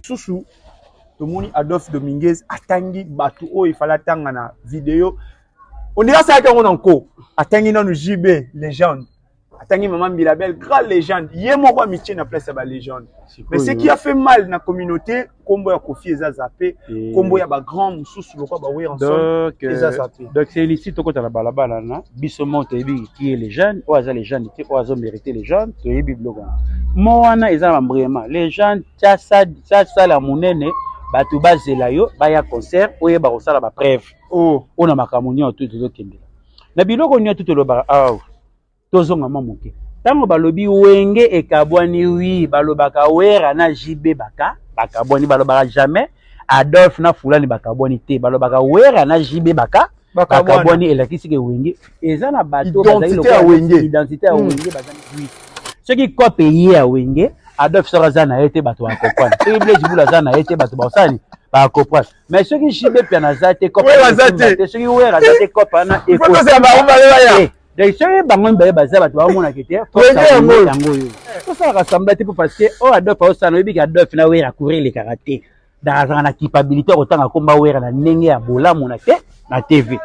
lisusu tomoni adolphe dominguez atangi bato oyo efali atanga na video ondiri asalaki yango na nko atangi nanu jb legende atangi mama mbila belle grande légende ye moko amitie na place ya balégende mais ce qui a fait mal na communauté nkombo ya kofi eza zape nkombo ya bagrand mosusu lokwa baweranson eza zape donc c'est ici tokota na balabala na biso moko toyebi qui est légende oyo aza légende te oyo azo mérite légende toyebi biloko wana mo wana eza na bambrema légende tiasala monene bato bazela yo baya concert oyeba kosala bapreuve oyo na makambo nyonso to tozokendela na biloko nyonso to tolobaka awa tozonga mwa moke ntango balobi wenge ekabwani wi balobaka wera na jb baka bakabwani balobaka jamais adolphe na fulani bakabwani te balobaka wera na jb baka bakabwani elakisi ke wenge eza na bato identite ya wenge hmm. bazali soki cope eye ya wenge adolphe soko aza na ye te bato bakokwana soki blaise bula aza na ye te bato bakosani bakopwana mais soki jibe piana aza te soki wer aza te cope wana ekoya donc soki bango mibale baza bato baomonaka te yango oyo tosalaka samba te mpo parce que oyo adof aosana oyebiki adof na wer akuri elekaka te donc azalaka na kipabilité ya kotanga nkomba wer na ndenge ya bolamu na te na tv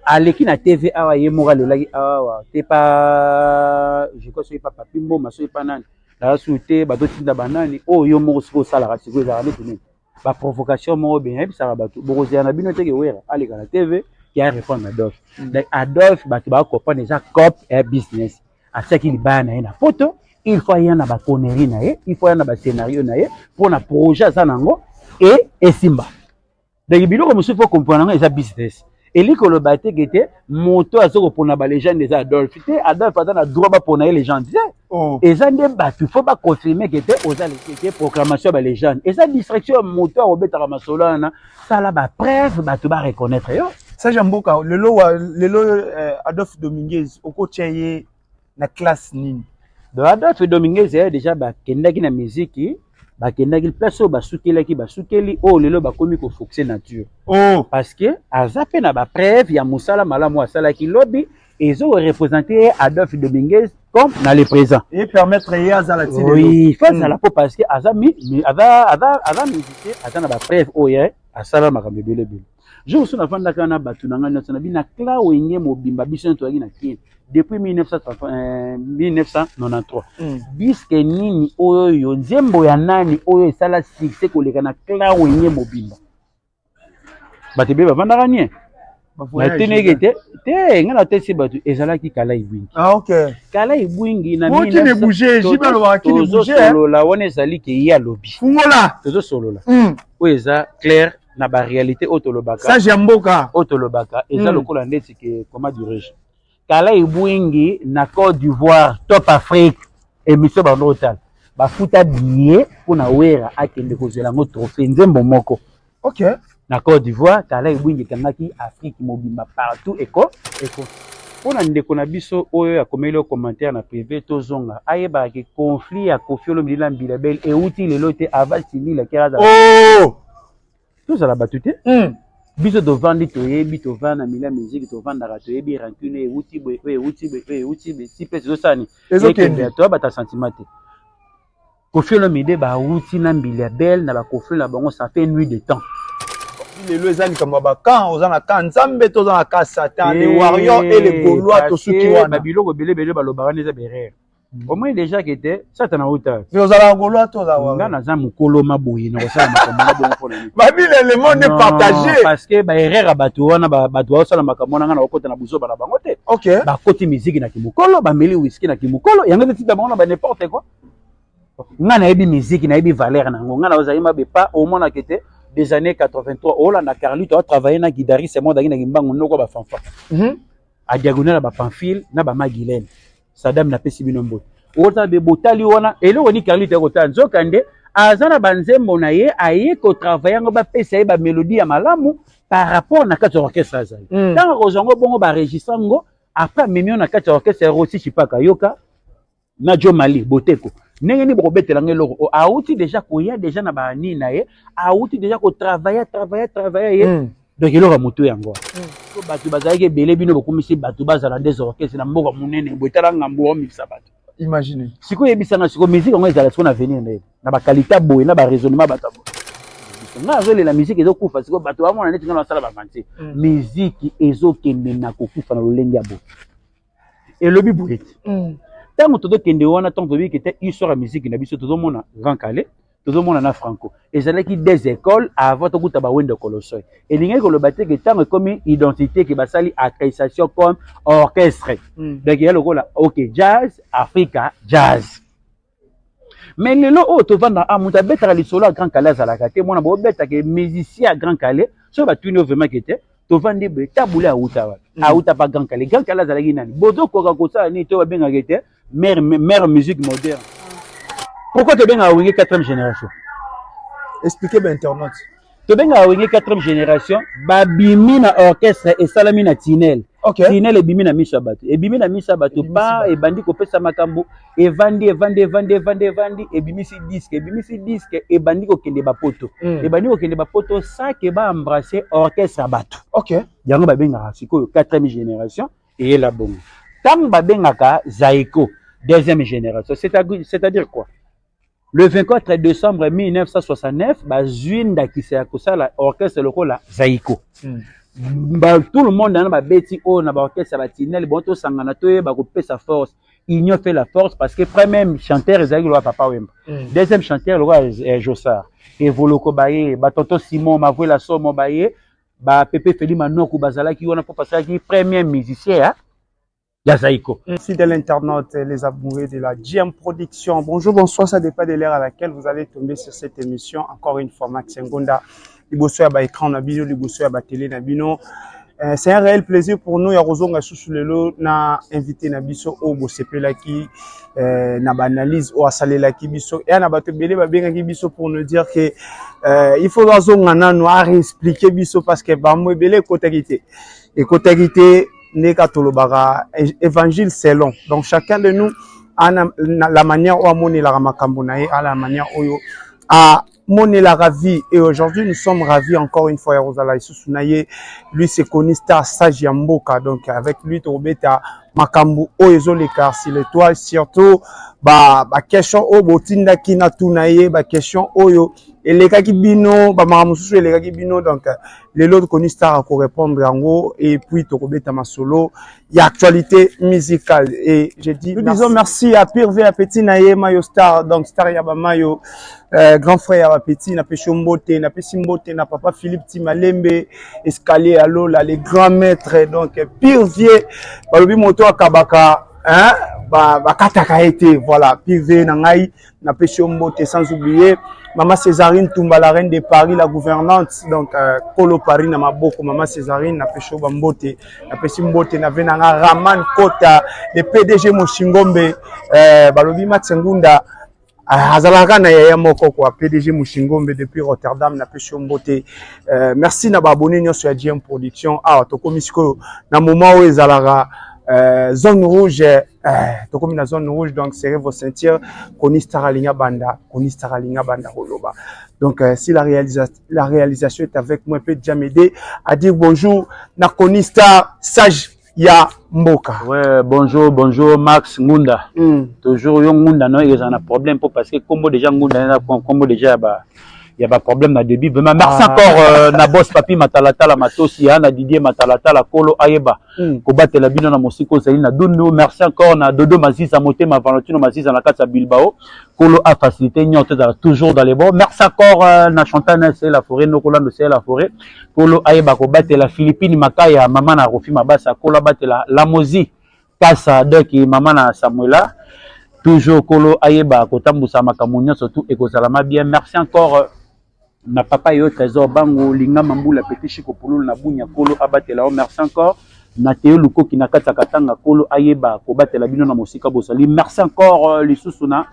aleki na tv awa ye moko alelaki awa te pa je crois soki pa papi mboma soki pa nani naza sur te bazotinda banani oyo yo moko soki osalaka sikoyo ezalaka neti nini ba provocation moko bien yebisaka bato bokozela na bino te ke wera aleka na tv ke a répondre adolphe mm. donc adolphe bato bakocomprendre eza cop ya business atiaki libaya na ye na poto il faut aya na baconnerie na ye il faut aya na bascenario na ye mpo na projet aza na yango e esimba donc biloko mosusu fo comprendre yango eza business elingi koloba te ke te moto aza kopona balegende eza adolphe te adolphe aza na droit bapona ye legende te oh. eza nde bato fo baconfirme ke te oza lekete proclamation ya balegende eza distraction ya moto akobetaka masolo wana sala bapreuve bato bareconnaitre yo sage ya mboka lelo lelo eh, adolphe dominguez okotya ye na classe nini Adolphe Dominguez ya deja bakendaki na miziki bakendaki place oyo basukelaki basukeli oyo oh, lelo bakomi kofoxe nature oh. parce que aza mpe na bapreuve ya mosala malamu asalaki lobi ezorepresente ye adolphe dominguez comme na le présent epermettre ye azala oui fo azala mpo parce que aza aza musicien aza na bapreuve oyo oh, asala makambo ebele ebele Jour mosusu nafandaka na bato na ngai nyonso na bina cla wenge mobimba biso nyonso toyaki na kin depuis 1993 mm. diske nini oyo nzembo ya nani oyo esala succès koleka na cla wenge mobimba bato ebele bafandaka nie nateneke te te ngai natesi bato ezalaki kala ibwingi ah, okay. kala ibwingi natozosolola wana ezali ke ye alobi tozosolola mm. oyo eza claire na ba réalité oyo tolobaka sage ya mboka oyo tolobaka eza mm. lokola ndeti ke comment dirais-je kala ebwingi na Côte d'Ivoire top Afrique émission bando otala bafuta billet mpo na wera akende kozela yango trophée nzembo moko ok na Côte d'Ivoire kala ebwingi ekangaki Afrique mobimba partout eko eko mpo na ndeko na biso oyo akomeli yo commentaire na privé tozonga ayebaka ke conflit ya kofi olomidila mbila bel euti lelo te aval silila keraza oh! tozala bato te hmm. biso tovandi toyebi tovanda na milia miziki tovandaka toyebi rancune euti boye oyo euti boye oyo euti boye si mpe tozosani ekende toyabata sentiment te kofi olomide bauti na mbili ya bele na bakofi na bango ça fait nuit de temps lelo eza likambo ya bakan oza na kan nzambe to oza na kan satan le eh, warrior e le golois tosuki wana biloko ebele ebele balobaka nde eza berere omoni deja ke te satana auta ozalaka golois to ozalaka nga naza mokolo ma boye na kosala makambo na bongo mpona nini babila le monde est partagé parce que ba erreur ya bato wana bato baosala makambo wana nga na kokota na buzoba na bango te okay. bakoti miziki na kimokolo bameli whisky na kimokolo yango ezotinda bango na ba n'importe quoi nga nayebi miziki nayebi valeur na yango nga na ozali mabe pa omonake te des années 83 olanda carlito atravaille na guidariste moko daki na kimbangu noko bafanfa mhm. adiagonale ya bapamphile na bamagilene Sadam napesi bino mbote okotala be botali wana eloko ni carlite ya kotala nzoka nde aza na banzembo na ye aye kotravaille yango bapesa ye bamelodi ya malamu par rapport na kati ya orchestre azali mm. ntango akozwa yango bongo baregistre yango après amemi na kati ya orchestre ya rosi chipaka yoka na jo mali boteko ndenge nini bokobetela ngo eloko oh, awuti deja koya deja na banini na ye awuti deja kotravaille travaille travaille ye mm. donc eloko ya motu yango so bato bazalaki ebele bino bokomisi bato bazala nde zorkese na mboka monene boye tala ngambo omikisa bato imagine sikoyo yebisanga sikoyo miziki yango ezala sikoyo na venir nde na bakalita boye na baraisonnement bato ya boye nga azolela miziki ezokufa sikoyo bato bamona neti nga nasala bavanse miziki ezokende na kokufa na lolenge ya boye elobi boye ete mm. ntango tozokende wana ntango toyebi kete histoire ya miziki na biso tozomona grand kale tozomona na franco ezalaki des écoles avant tokuta bawendo kolosoi elingaki koloba te ke ntango ekomi identité ke basali accrécitation comme orchestre mm. donc ya lokola ok jazz africa jazz Mais lelo oyo tovanda a ah, moto abetaka lisolo ya Grand Kalle azalaka te mwana bobeta ke musicien ya Grand Kalle soki batuni yo vraiment ke te tovandi boye tabule awuta wapi mm. awuta pa Grand Kalle Grand Kalle azalaki nani bozokoka kosala nini to babengaka ete mère mère musique moderne pourquoi tobengaka wenge 4e génération expliquer ba internaute tobengaka wenge 4 génération babimi na orchestre esalami na tinel okay. tinel ebimi na miso ya bato ebimi na miso ya bato pa ebandi kopesa makambo evandi evandi evandi evandi evandi ebimisi diske ebimisi diske ebandi kokende bapoto mm. ebandi kokende bapoto sake baembrasse orchestre ya bato okay. yango babengaka sikoyo 4 génération eyela bongo ntango babengaka zaiko deuxième génération c'est-à-dire quoi Le 24 decembre 1969 bazui ndakisa ya kosala orchestre lokola Zaiko. Mm. Ba, tout le monde na babeti oyo na ba orchestre ba Tinel bon to sangana to yeba ko pesa force. Union fait la force parce que premier chanteur ezali lokola Papa Wemba. Mm. Deuxième chanteur lokola eh, Jossard. Evoloko baye, ba Tonton Simon, Mavuela Somo baye, ba Pepe Feli Manoku bazalaki wana po pasalaki premier musicien ya ya Zaiko. Fidèle internaute, les amoureux de la GM Production. Bonjour, bonsoir, ça dépend de l'heure à laquelle vous allez tomber sur cette émission. Encore une fois, Max Ngonda, liboso ya ba écran na bino, liboso ya ba télé na bino. Euh, c'est un réel plaisir pour nous ya kozonga susu lelo na invité na biso oyo bosepelaki euh, na baanalyse oyo asalelaki biso eya na bato ebele babengaki biso pour nous dire que euh, il faut bazonga nano areexplike biso parce que bamo ebele ekotaki te ekotaki te ndenge kaka tolobaka évangile selon donc chacun de nous ana na, la manière oyo amonelaka makambo na ye ala la manière oyo amonelaka vie et aujourd'hui nous sommes ravis encore une fois ya kozala lisusu na ye lui se connu star sage ya mboka donc avec lui tokobeta makambo oyo ezoleka sur l'étoile surtout ba, ba question oyo botindaki na tuna ye ba question oyo elekaki bino bamaka mosusu elekaki bino donc lelo tokoni star akorepondre yango et puis tokobeta masolo ya actualité musicale et je dis nous disons merci à pire ve ya petit na ye mayo star donc star ya bamayo euh, grand frère ya bapetit napesi yo mbote napesi mbote na papa philippe timalembe escalier ya lola le grand maître donc pire vie balobi moto akabaka bakataka ba ye te voilà pire vie na ngai na pesi yo mbote sans oublier mama césarine tumba la reine de paris la gouvernante donc euh, kolo paris na maboko mama césarine na pesi yo bambote na pesi mbote na ve na nga raman kota le pdg moshingombe euh, balobi max ngunda Ah, azalaka na yaya moko kwa pdg mushingombe depuis rotterdam na pesi yo mbote euh, merci na baabone nyonso ya gm production awa ah, tokomi sikoyo na moment oyo ezalaka euh, zone rouge Eh, tokomi na zone rouge donc serrez vos ceintures konistar alingi abanda konistar alingi abanda koloba donc euh, si la, réalisa la réalisation est avec moi mpe jamede à dire bonjour na konistar sage ya mboka ouais, bonjour bonjour max ngunda mm. toujours yo ngunda no ezala na problème mpo parce que nkombo déjà ngunda eza nkombo déjà ya ba Il y a pas de problème na début. Vraiment, merci ah. encore euh, na boss papi matalatala matosi ya na Didier matalatala kolo ayeba mm. kobatela bino na mosiko ozali na dundu. Merci encore na Dodo Maziza motema Valentino Maziza na kati ya Bilbao kolo a facilité nyoto ezala toujours dans les bons. Merci encore euh, na Chantana c'est la forêt nokolando c'est la forêt kolo ayeba kobatela Philippine Makaya mama na Rofi Mabasa kolo abatela Lamozi Pasa donc mama na Samuela toujours kolo ayeba kotambusa makambo nyonso tout ekozalama bien merci encore na papa yo trésor bango linga mambula petit chiko pululu na bunya kolo abatela yo merci encore na teo lukoki na kati ya katanga kolo ayeba kobatela bino na mosika bozali merci encore lisusu na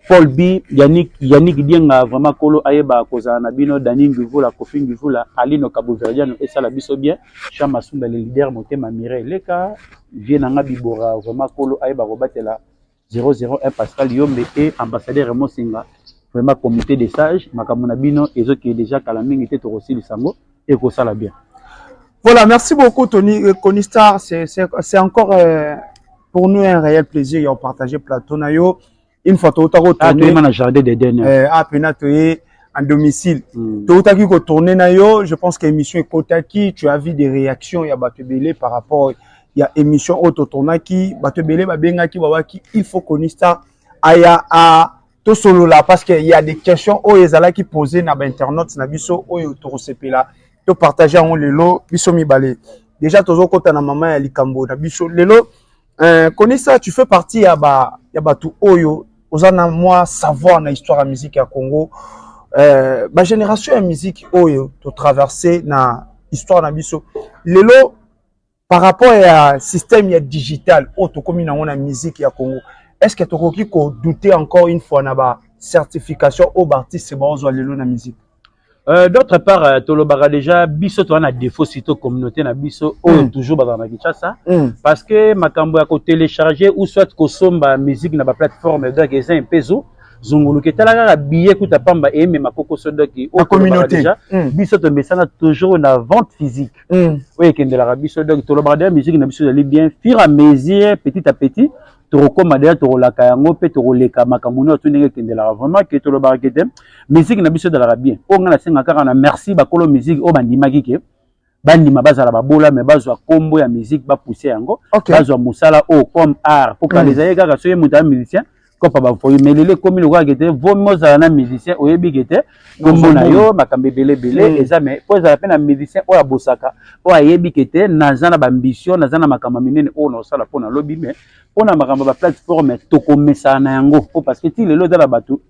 Paul B, Yannick, Yannick Dienga, vraiment Kolo Ayeba kozala na bino, Dani Ngivula, Kofi Ngivula, Alino Kabuverdiano, esala biso bien, Jean Masumba, le leader, Motema Mireille Leka, Vieux Nanga Bibora, vraiment Kolo Ayeba kobatela 001 Pascal Yombe et ambassadeur Raymond Senga, vraiment comité des sages, makambo na bino ezokende déjà kala mingi te tokosilisa yango. ekosala bien voilà merci beaucoup Tony euh, Conistar c'est c'est encore euh, pour nous un réel plaisir ya partager plateau na yo une fois touta ko ah, tourner na jardin de dernier euh, ah pena toye en domicile mm. toutaki ko tourner na yo je pense que émission ekotaki tu as vu des réactions ya bato ebele par rapport ya émission oyo totournaki bato ebele babengaki babaki il faut Conistar aya a tosolola parce que il y a des questions oyo ezalaki poser na ba internautes na biso oyo tokosepela to partager yango lelo biso mibale déjà tozokota na mama ya likambo na biso lelo euh, konisa tu fais partie ya ba ya bato oyo oza na mwa savoir na histoire ya musique ya Congo euh, ba génération ya musique oyo to traverser na histoire na biso lelo Par rapport ya système ya digital oyo tokomi nango na musique ya Congo, est-ce que tokoki ko douter encore une fois na ba certification oyo baartiste baozwa lelo na musique? Euh, d'autre part euh, tolobaka déjà biso toza na défaut surtout communauté na biso oyo mm. toujours bazala na kinshasa mm. parce que makambo ya kotélécharger ou soit kosomba musique na baplateforme donc eza empezo zunguluka etala kaka billet kuta pamba eyemema kokoso doki oyo déjà mm. biso tomesana toujours na vente physique mm. oyo ekendelaka biso donc tolobaka deja musique na biso ezali bien fur à mesure petit à petit tokokoma deja tokolaka yango mpe tokoleka makambo nyonso ndenge ekendelaka vraiment ke tolobaka ke te musique na biso ezalaka bien oyo ngai nasenga kaka na merci bakolo musique oyo bandimaki ke bandima bazala babola me bazwa nkombo ya musique bapousse yango okay. bazwa mosala oyo comme art mpo kala mm. ezali kaka soki moto ya musicien kopa bafoyi mais lelo ekomi lokola kete vomi ozala na musicien oyebi kete kombo na yo makambo ebele ebele hmm. eza mais mpo ezala mpe na musicien oyo abosaka oyo ayebi kete naza na baambition naza na makambo ya minene oyo naosala mpo na lobi mais mpo na makambo ya baplateforme tokomesana na yango mpo parce que ti lelo eza na bato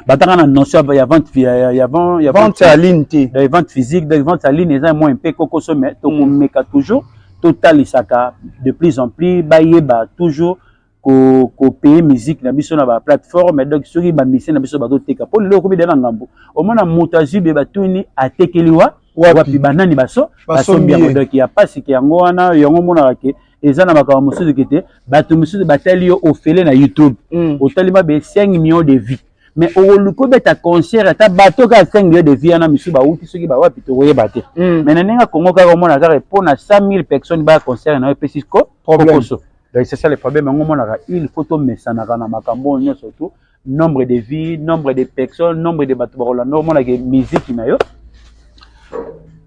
batanga na notion ya vente ya ya vente ya ligne te donc vente physique donc vente ya ligne eza moins mpe kokoso mais tokomeka toujours totalisaka de plus en plus bayeba toujours ko ko payer musique na biso na ba plateforme donc soki ba musicien na biso bazoteka mpo lelo okomi da na ngambo omona moto azwi be batuni atekeli wa wapi banani baso basombi yango donc ya pasike yango wana yango omonaka ke eza na makambo mosusu ke te bato mosusu batali yo ofele na youtube mm. otali mabe 5 millions de vie mais okoluki obeta concert ata bato kaka 5 millions de vie wana misusu bawuti soki bawapi tokoyeba te mm. mais na ndenge kongo kaka omona kaka mpo na 100 000 personnes baya concert na yo epesi kokoso donc c'est ça le problème yango omonaka il faut tomesanaka na makambo oyo nyonso tu nombre de vie nombre de personne nombre de bato bakolanda omona ke miziki na yo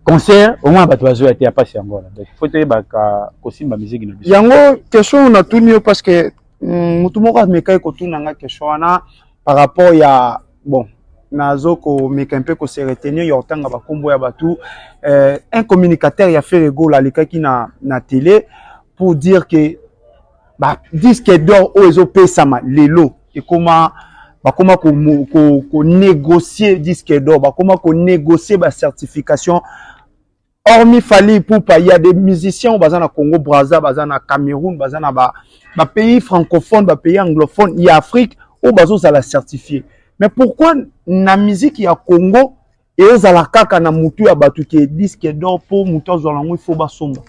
concert omona bato bazoya te ya mpasi yango wana donc fo toyebaka kosimba miziki na biso yango question natuni yo parce que mm, motu moko amekaki kotuna nga question wana par rapport ya bon nazo komeka mpe kose retenir ya kotanga bakombo ya bato euh, un communicateur ya ferre gola alekaki na, na tele pour dire que ba disque d'or oyo ezopesama lelo ekoma bakoma ko, ko, ko négocier disque d'or bakoma ko négocier ba certification hormis Fally Ipupa il y a des musiciens oyo baza na Congo Brazza baza na Cameroun baza na ba, ba pays francophones ba pays anglophones ya Afrique oyo bazozala certifié mais pourquoi na musique ya Congo ezala kaka na mutu ya bato ke disque d'or mpo moto azwa yango ifo basomba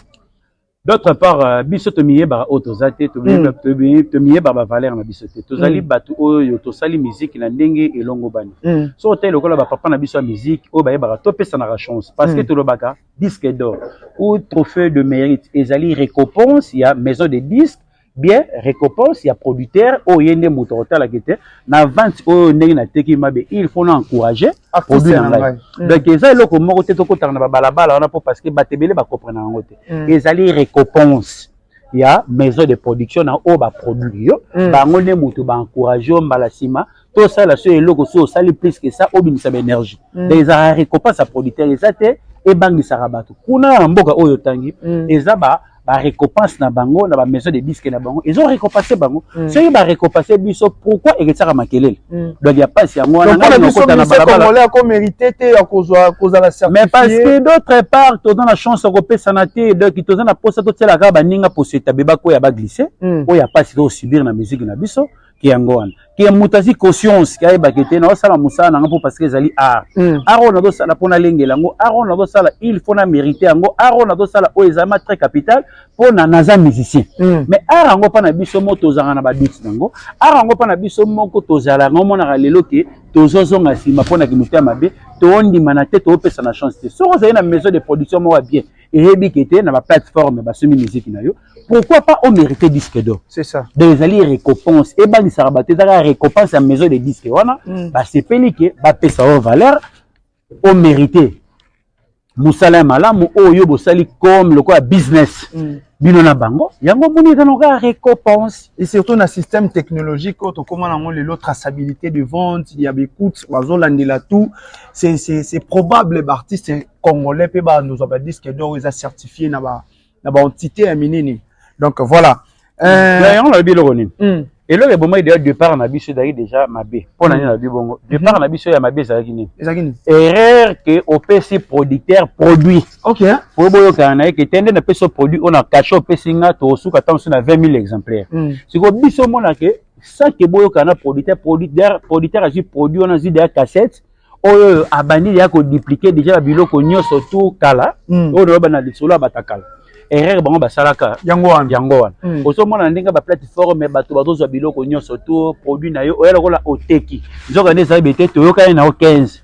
d'autre part euh, biso tomiyebaka oyo toza te hmm. tomiyebaka bavaleur na biso te tozali hmm. bato oyo tosali miziki na ndenge elongobani hmm. so otali lokola bapapa na biso ya miziki oyo bayebaka topesanaka chance parce que tolobaka disque d'or ou trophée de mérite ezali récompense ya maison de disque bien recompense ya producteur oyo ye nde moto akotalaka ete na vente oyo ndenge nateki mabe il faut na encourage produit na ngai mm. donc eza eloko moko te tokotaka na babalabala wana mpo parce que bato ebele bakomprena yango te mm. ezali recompense ya maison de production na oyo baproduit yo mm. bango nde moto baencourage yo mbala nsima to sala so eloko so osali plus que ça obimisa ba énergie mm. donc ezalaka récompense ya producteur eza te ebangisaka bato kuna na mboka oyo otangi mm. eza ba ba récompense na bango na ba maison de disque na bango ezo récompense bango mm. soki ba récompense biso pourquoi eketsaka makelele mm. donc ya pasi yango wana ngai nakota na balabala ako mérité te ya kozwa kozala certifié mais parce que d'autre part toza na chance ya kopesana te donc toza na posa totielaka baninga poso etabe bakoya baglisse mm. oyo ya pasi tozosubir na musique na biso ke yango wana ke moto azwi conscience ke ayebake te nazosala mosala na nga mpo parce que ezali art mm. art oyo nazosala mpo nalengela yango art oyo nazosala il faut na mérite yango art oyo nazosala oyo ezali ma très capital mpo na naza musicien mm. mais art yango mpa na biso moko tozalaka na baduti na yango art yango mpa na biso moko tozala yango omonaka lelo ke tozozonga nsima mpo na kimoto ya mabe tondimana te toopesa na chance te soki ozali na maison de production moko ya bien eyebi ke te na baplateforme basomi miziki na yo pourquoi pas o mérite disque d'or c'est ça donc ezali récompense ebangisaka bato ezalaka récompense ya maison de disque wana mm. basepeli ke bapesa o valeur o mérite mosala ya malamu oyo yo bosali comme lokola business mm. bino na bango yango omoni eza noka récompense et surtout na système technologique oyo tokóma nango lelo traçabilité de vente ya bacoute bazolandela tout c'est probable baartiste congolais mpe bandozwa badisque d'or eza certifie na ba na ba entité ya minene donc voilà euh, yango nalobi eloko nini hmm. eloko ebomaki deja départ na biso ezalaki déjà mabe mpo na nini nalobi bongo hmm. départ na biso ya mabe ezalaki nini ezalaki nini erreur ke opesi producteur produit ok po boyokana na ye ke te nde napesi yo produit oyo na cachet opesi nga tokosuka ntango mosusu na 20 000 exemplaire hmm. sikoyo biso omona ke sake boyokana na producteur producteur azwi produit wana azwi deja cassette oyo oyo abandi deja koduplike deja babiloko nyonso tour kala mm. oyo naloba na lisolo ya batakala erreur bango basalaka yango wana yango wana mm. ozomona ndenge baplateforme bato bazozwa biloko nyonso tour produit na yo oya lokola oteki nzoka nde ezali bete toyokani na yo 15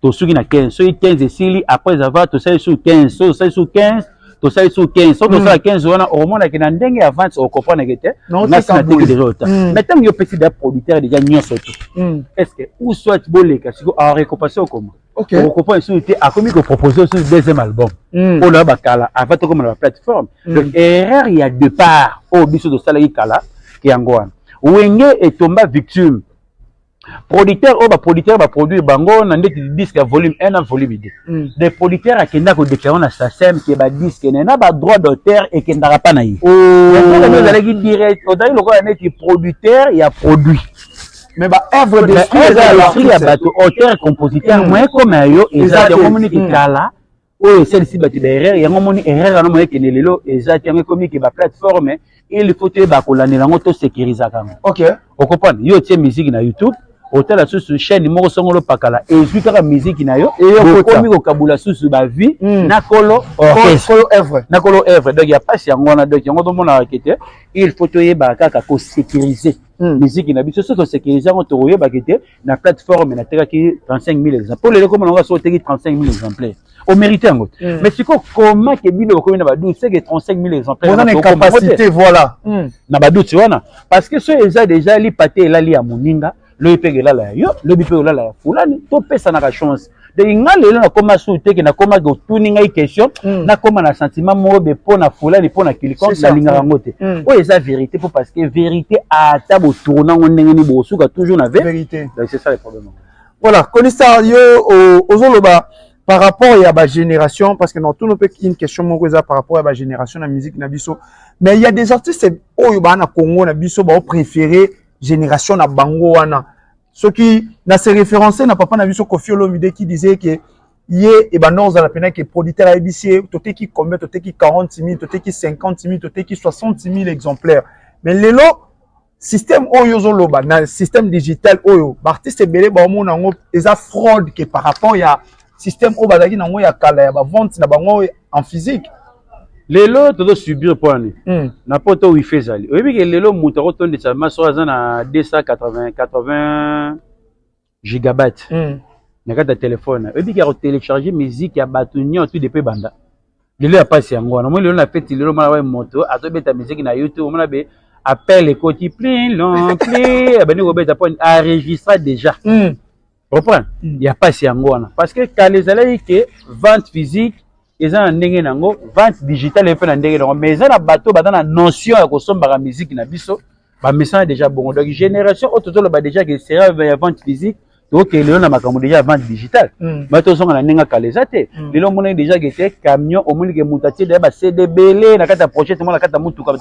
tosuki na 15 soki 15 esili après avoir tosali sur 15 soki tosali sur 15 tosali su 15 soki tosala 15 mm. wana okomonake na ndenge ya vente okomprenake te ngasi nateki deja ota mm. mais ntango yo opesi da producteur deja nyonso te mm. est ce que ou soit boleka siko arecompase okoma okopa esusu te akomi kopropose osusu deuxième album mpo na bakala avant tokoma na baplateforme donc erreur ya départ oyo biso tosalaki kala yango wana wenge etomba victime producteur oyo baproducteur baproduire bango na ndeti disque ya volume 1 na volume 2 mm. de producteur akenda kodeclare na sasem ke badisque naye na badroit d'auteur ekendaka mpa na ye oh. ozalaki direct ozalaki lokola neti producteur ya produit mais ba œuvre d'esprit ya bato auteur compositeur mm. moyen comme ya yo eza te omoni mm. kitala oyo esalisi bato ba erreur yango omoni erreur yango moye ekende lelo eza te yango ekomi ke ba plateforme il faut toyeba kolandela yango tosecurisaka yango okay. okoprendre yo otie miziki na youtube otala susu chaîne moko songolo opakala ezwi kaka miziki na yo okomi kokabula susu bavie hmm. na kolo œuvre na kolo œuvre donc ya mpasi yango wana donc yango tomonaka ke te il faut toyebaka kaka kosecurise miziki hmm. na biso soki tosecurise yango tokoyebaka te na plateforme natekaki 35000 exemplaires mpo lelo komona ngo soki oteki 35000 exemplaires omérite yango te mm. mais sikoyo koma ke bino bokomi na badoute seke 35000 exemplairescapacité voilà mm. na badoute wana parce que soki eza déjà lipate elali ya moninga lobi mpe elala ya yo lobi mpe olala ya fulani topesanaka chance donc nga lelo nakoma sur teke nakoma ke otuni ngai question mm. nakoma na sentiment moko be mpo na fulani mpo na kilikon nalingaka yango te mm. oyo eza vérité mpo parce que vérité ata botourna yango ndenge nini bokosuka toujours na vérité donc c'est ça le problème voilà konisa yo ozoloba par rapport ya bagénération parce que na otuni mpe une question moko eza par rapport ya bagénération na musique na biso mais il y a des artistes oyo baa na congo na biso baopréféré génération na bango wana soki na se reference na papa na biso kofi olomide qui disait que ye ebanda kozala mpena ke producteur ayebisi ye toteki combien toteki 40 000 toteki 50 000 toteki 60 000 exemplaires mais lelo système oyo ozoloba na système digital oyo baartiste ebele baomona yango eza fraude ke par rapport ya système oyo bazalaki na yango ya kala ya bavente na bango en physique lelo tozo subir mpo ani mm. na poto wifi ezali oyebi ke lelo moto akotondisa maso aza na 280 gigabyte mm. na kati ya telefone oyebi ke akotelecharge musique ya bato nyonso de mpe banda lelo ya mpasi yango wana omoi lelo na feti lelo mwana waye moto azobeta miziki na youtube omona be appel ekoti plin lon pli abandi kobeta mpo aregistra déjà mm. Reprend mm. ya pasi yango wana parce que kala ezalaki ke vente physique eza na ndenge nango vente digitale mpe na ndenge nango mais eza na bato baza na notion ya kosombaka miziki na biso bamesana deja bongo donc génération oyo tozoloba deja ke sera ya vente physique tokee lelo na makambo deja ya vente digitale mm. ba tozonga na ndenge kala eza te mm. lelo omonaki deja ke te camion omoni ke moto atie deja bacd ebele na kati ya projet tomona na kati ya motuka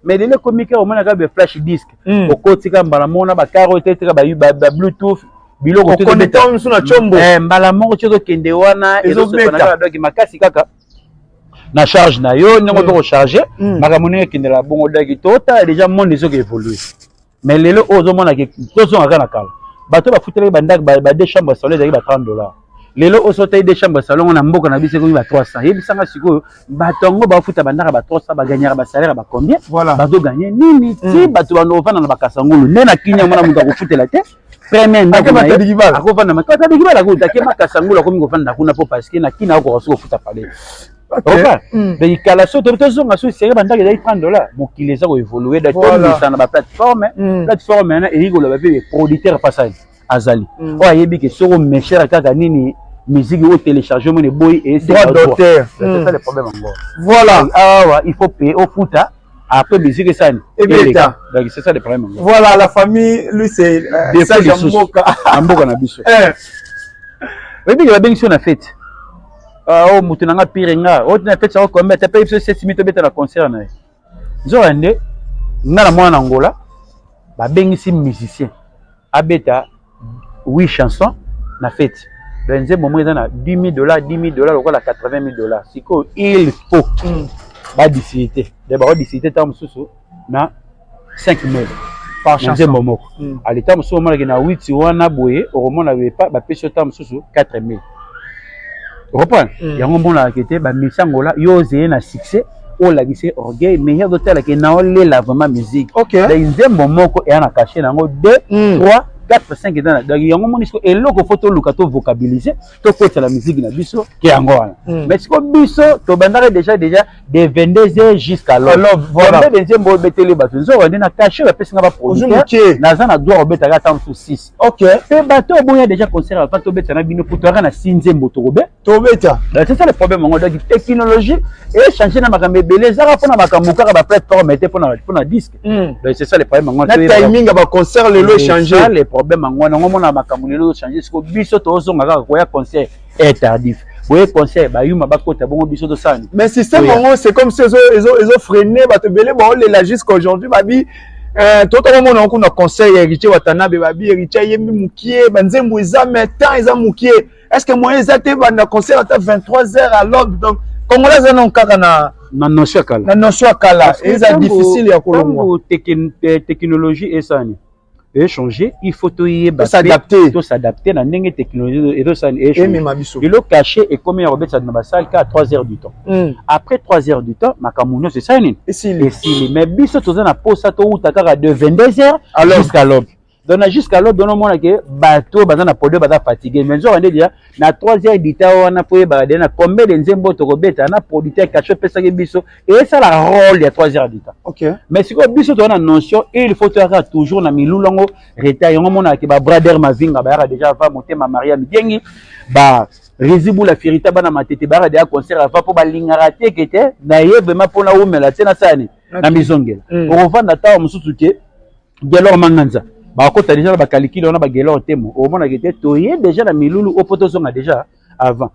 mais lelo ekomika omonaka be flash disque mm. okotika mbala moko na bakare oyo etetika babluetooth biloko mosu na combo eh, mbala moko ti ozokende wana ezosoki makasi kaka na charge na yo ndenge ozo kocharge mm. mm. makambo ndenge ekendela bongo daki totala deja monde ezoki évolue mais lelo oyo ozomona ke tozongaka na kala bato bafutelaki bandako ba deux chambre solo ezalaki ba 30 dollars lelo oso otai de chambre salon na mboka na biso ekomi ba 300 yebisanga sikoyo bato yango bafuta bandaka ba 300 bagagnaka basalaire ba combien voilà. bazoganye nini ti mm. bato bando ofanda na bakasangulu nde na kini yango na moto akofutela te premier ndakofanda makatadikibala kuta ke makasangulu akomi kofanda kuna mpo parce que na kini akokoka soki kofuta palais oka mm. donc kala so tobi tozonga so sere bandaki ezali 30 dollar mokili eza koevolue da tomisa na baplateforme mm. plateforme yana eyei koloba mpe producteur passage azali mm. oyo ayebi ke soko meshere kaka nini musique oyo télécharge omoni eboyi eesdroit d'auteur mm. le problème yango voilà awa il faut paye ofuta après musique esani ebeta donc c'est ça le problème yango voilà la famille lui c'est euh, sage ya mboka na mboka na biso eh. oyebi ke babengisi yo na fete ah, oyo oh, moto na nga pire nga oyo oh, tina fete yango kombe ata mpe biso sesimi tobeta na concert na ye nzokande nga na mwana na ngola babengisi musicien abeta 8 chanson na feti donc nzembo moko eza na 10 dollars 10 dollars lokola 80 dollars sikoyo il faut mm. badisite donc bakodisite ntango mosusu na 5 mille nzembo moko mm. aleta mosusu omonaki na witi wana boye okomona bapesi yo ntango mosusu 4 mille okompona mm. yango omonaka ete bamisi angola yo ozeye na succès olakise orgueil mais ye azotala ke na olela vraiment musique okay. da nzembo moko eya na kashe na yango 2 mm. 3 4 5 eza na donc yango omoni siko eloko fo toluka tovokabilise tokotela miziki na biso ke yango wana mm. mais siko biso tobandaka deja deja de 22h jusqu'à l'aube voilà bebe nzembo obeteli bato nzoka nde na cachet bapesi nga baproducteur naza na droit obetaka ata mosu 6 ok mpe bato oboya déjà concert bato tobeta na bino kutu aka na si nzembo tokobe tobeta c'est ça le problème yango donc technologie echange na makambo ebele ezaka mpona makambo kaka baplateforme te mpona mpona disque hmm. donc c'est ça le problème yango na timing ya baconcert lelo echange le problème yango wana yango mona makambo lelo echange siko biso tozonga kaka koya concert eh tardif boye conseil bayuma bakota bongo biso tosala nini mais système yango c'est comme si ezo ezo ezo freiner bato ebele baolela jusqu'à aujourd'hui babi eh, totokomona yango kuna conseil ya héritier watanabe babi héritier ayembi mokie banzembo eza mais temps eza mokie est ce que moyen eza te banda conseil ata 23 heures à l'aube donc congolais aza nango kaka na na notion ya kala na notion ya kala eza difficile ya kolongwa technologie esani echanger il faut toyeba s'adapter to s'adapter na ndenge technologie ezo sala emema biso lelo cachet ekomi ya kobetisa na basali kaka 3 heures du temps mm. après 3 heures du temps makambo nyonso esali nini esili mais biso toza na posa towuta kaka de 22 heures jusqu'à l'aube donc na jusqu'à l'aube onomona ke bato baza na polio baza fatigue mais nzoka nde deja na 3 heures du temps wana mpo oyebaka deja na combien de nzembo tokobeta na producteur kacho opesaki biso esala role ya 3 heures du temps okay. mais sikoyo biso toza na notion il faut toyaka toujours na milulu yango retard yango omonaka ke babrader mavinga bayaka deja va motema maria mikengi ba rizibula firita bana matete bayaka deja concert ava mpo balingaka te ke te na ye vraimen mpo naumela te nasala nini na mizongela mm. okovanda ntango mosusu te Gelor Manganza bakota deja na bakalikile wana bagelor temo omonaka te toye deja na milulu oyo mpo tozonga deja avant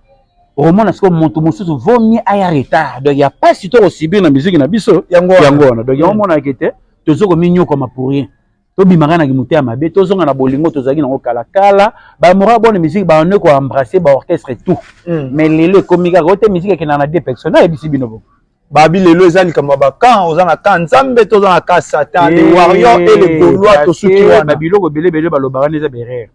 omona sikoyo moto mosusu vaut mieux aya retard donc ya mpasi to kosibir na miziki na biso yango wana donc yango omonaka te tozo kominyokoma pour rien tobimaka na kimotema mabe tozonga na bolingo tozalaki nango kala kala bamora bona miziki baone koembrasse baorchestre tout hmm. mais lelo ekomi kaka oyo te miziki ekendaka na deux personne nayebisi bino bongo babi lelo eza likambo ya bakan oza na kan nzambe to oza na kan satan le warrior e le golois tosuki wana babiloko ebele ebele balobaka nde eza berere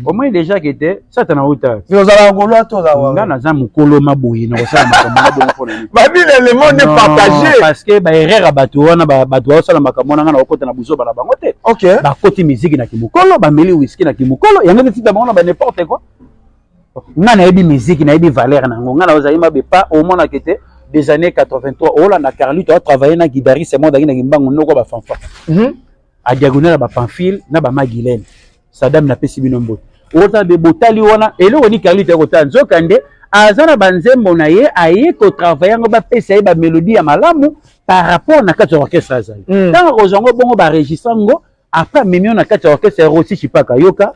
omoni deja ke te satana auta ozalaka golois to nga naza mokolo maboye na kosala makambo na bongo mpona babile le monde partage parce que baerreur ya bato wana bato baosala makambo wana nga na kokota na buzoba na bango te bakoti miziki na kimokolo bameli wiski na kimokolo yango nde tika bango na ba n'importe quoi nga nayebi miziki nayebi valeur na yango nga naozali mabe pa omonaka ete des années 83 olanda carlito atravaille na guidariste moko azalaki na kimbangu noko ya bafanfa mhm. adiagonal ya bapamphile na bamagilene sadame napesi bino mbote ota be botali wana eloko ni carlito ya kotala nzoka nde aza na banzembo na ye aye kotravaille yango bapesa ye bamelodi ya malamu par rapport na kati ya orchestre azali mhm. ntango akozwa yango bongo baregistre yango après amemi yo na kati ya orchestre ya rosi chipaka yoka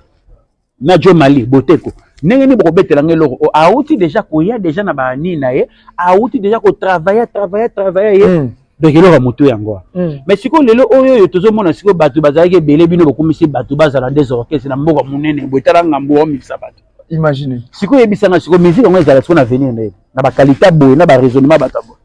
na Joe Mali Boteko ndenge nini bokobetela ngai eloko oh, awuti deja koya deja na banini na ye awuti deja kotravaille travaille travaille ye mm. donc eloko ya motu yango wana mm. mais sikoyo lelo oyo oyo tozomona sikoyo bato bazalaki ebele bino bokumisi bato bazala nde zorkese na mboka monene boye tala ngambo wamimisa bato imagine sikoyo yebisanga sikoyo musique yango ezala sikoyo na avenir na ye na bakalite boye na baraisonnement bato ya boye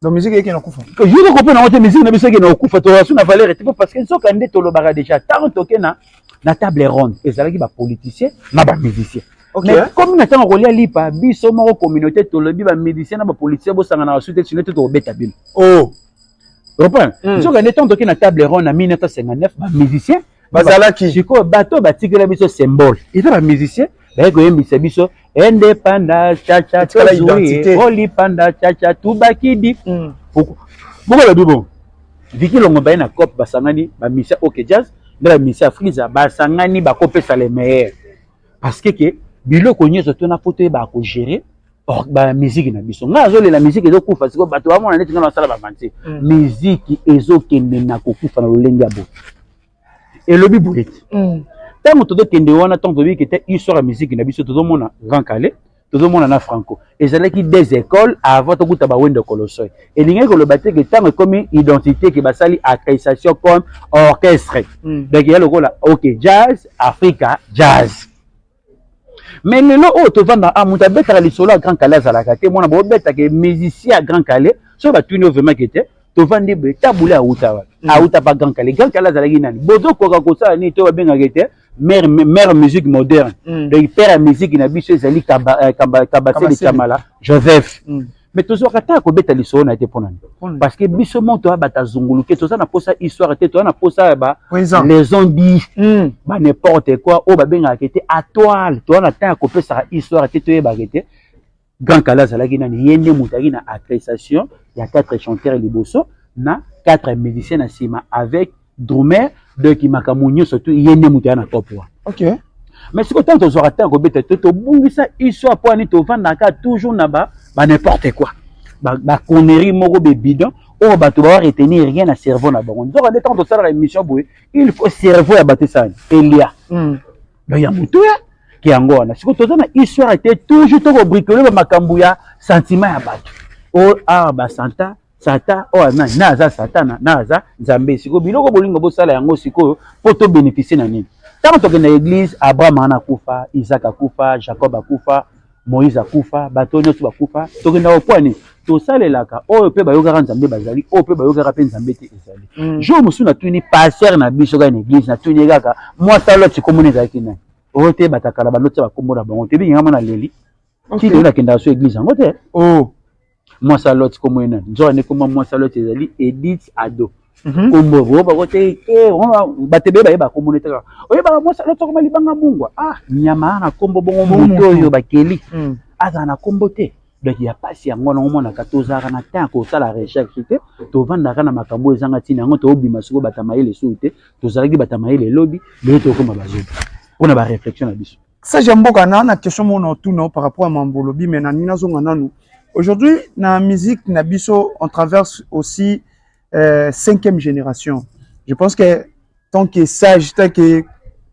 Donc musique yake na kufa. Yo ko kopena ngote musique na biso yake na kufa to rasu na valeur te parce que nsoka nde tolobaka déjà tant toke na na table ronde ezalaki ba politiciens na ba musiciens. Okay. Mais comme na tango kolia lipa biso moko communauté tolobi ba musiciens na ba politiciens bo sangana rasu te sinon te to beta bino. Oh. Reprends. Hmm. Nsoka nde tant toke na table ronde na 1959 ba musiciens bazalaki sikoyo bato batikela biso symbole eza ba musiciens baye koyembisa biso ende panda chacha tozui oli panda chacha tubakidi mm. boko lobi bongo viki longo baye na cop basangani bamisia ok jazz nde bamisia afriza basangani bakopesa le meilleur parce que ke biloko nyonso tona mpo toyeba kogere bamiziki na biso ngai azolela miziki ezokufa sikoyo bato bamona neti ngai nasala bavanti miziki mm. ezokende na kokufa na lolenge ya boye elobi boye ntango mm. tozokende wana ntango toyebi kete histoire ya miziki na biso tozomona grand kale tozomona na franco ezalaki des écoles avant tokuta bawendo kolosoi elingaki koloba te ke ntango ekomi identité ke basali accrécitation comme orchestre mm. donc ya lokola ok jazz africa jazz Mais lelo oyo tovanda a ah, moto abetaka lisolo ya Grand Kalle azalaka te mwana bobetaka musicien ya Grand Kalle soki batuni yo vraiment kete tovandi boye tabule awuta wapi mm. awuta pa Grand Kalle Grand Kalle azalaki nani bozokoka kosala nini to babengaka ete mère mère musique moderne mm. donc père ya musique na biso ezali kabasele euh, kamala Joseph mm. me tozwaka ata ya kobeta lisolo na ye te mpo na nini parce que biso moto ya bato azunguluke toza na mposa histoire te toza na mposa ya ba maison di hmm. ba n'importe quoi oyo babengaka te atoile toza na temps ya kopesaka histoire te toyebaka te grand kala azalaki nani ye nde moto ayaki na appréciation ya quatre chanteur liboso na quatre musicien na nsima avec drumeur donc makambo nyonso tu ye nde moto ya na top wana okay. mais sikoyo ntango tozwaka ntango kobeta to tobungisa histoire mpo ani tovandaka toujours na ba, ba n'importe quoi baconnerie ba moko bebidon oyo bato bawa retenir rien na cerveau na bango nzoka nde ntango tosalaka émission boye il faut cerveau ya bato esani elia hmm. donc ya motu ya ke yango wana sikoyo toza na histoire te toujours tokobricole bamakambo ya sentiment ya bato o oh, awa ah, basanta sata oyo oh, nani na aza satana na aza nzambe sikoyo biloko bolingo bosala yango sikoyo mpo tobénéficie na nini ntango tokenda église abraham ana akufa isaac akufa jacob akufa moïse akufa bato oyo nyonso bakufa tokendaka mpo nini tosalelaka oyo mpe bayokaka nzambe bazali oyo mpe bayokaka mpe nzambe te ezali mm. jour mosusu natuni pasteur na biso kaka na église natuni ye kaka mwasi aloti komona ezalaki nani oyo te batakala baloti ya bakombo na bango te ebingi ngai mwana leli tii nakendaka so église yango te oh. mwasi ya lot kombo ye nani nzokande kombo mwasi ya lot ezali edith ado mhm. kombo bo bako te eh, bato ebele bayeba kombo ne taka oyebaka mwasi ya lot akoma libanga mungwa ah nyama ana kombo bongo moto oyo bakeli mm. azala na kombo te donc ya mpasi yango wana omonaka tozalaka na temps ya kosala recherche te tovandaka na makambo ezanga ntina yango tobima sikoyo bata mayele suu te tozalaki bata mayele elobi lelo tokoma bazobi mpo na bareflexion na biso Sage ya mboka na na question mona otuna par rapport à mambo olobi mais nalingi nazonga nanu aujourd'hui na musique na biso on traverse aussi euh, cinquième génération je pense que tant que sage tant que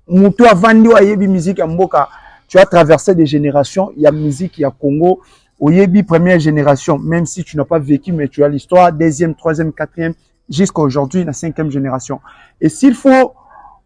moto avandi oyo ayebi musique ya mboka tu as traversé des générations ya musique ya Congo oyebi première génération même si tu n'as pas vécu mais tu as l'histoire deuxième troisième quatrième jusqu'à aujourd'hui na cinquième génération et s'il faut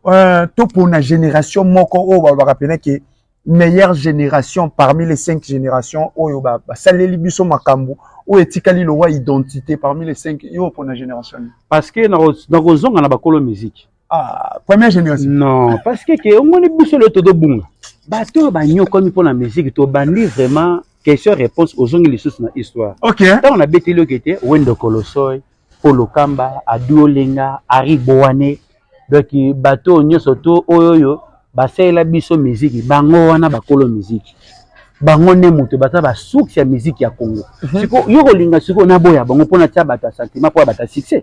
euh, topona génération moko oyo balobaka mpena ke meilleure génération parmi les cinq générations oyo basaleli ba biso makambo oyo etikali lowa identité parmi les cinq yo opona génération parce que nakozonga na bakolo musique Ah, première génération. Non, parce que que omoni biso le todo bunga. Bato oyo banyokwami mpo na musique tobandi vraiment question réponse ozongi lisusu na histoire. OK. Ntango nabeteli yo kete Wendo Kolosoy, Polo Kamba, Adu Olenga, Ari Bowane. Donc bato oyo nyonso to oyo oyo basalela biso musique bango wana bakolo musique. Bango nde moto baza ba source ya musique ya Congo. Siko yo kolinga siko naboya bango mpo natia bato ya sentiment mpo ya bato ya succès.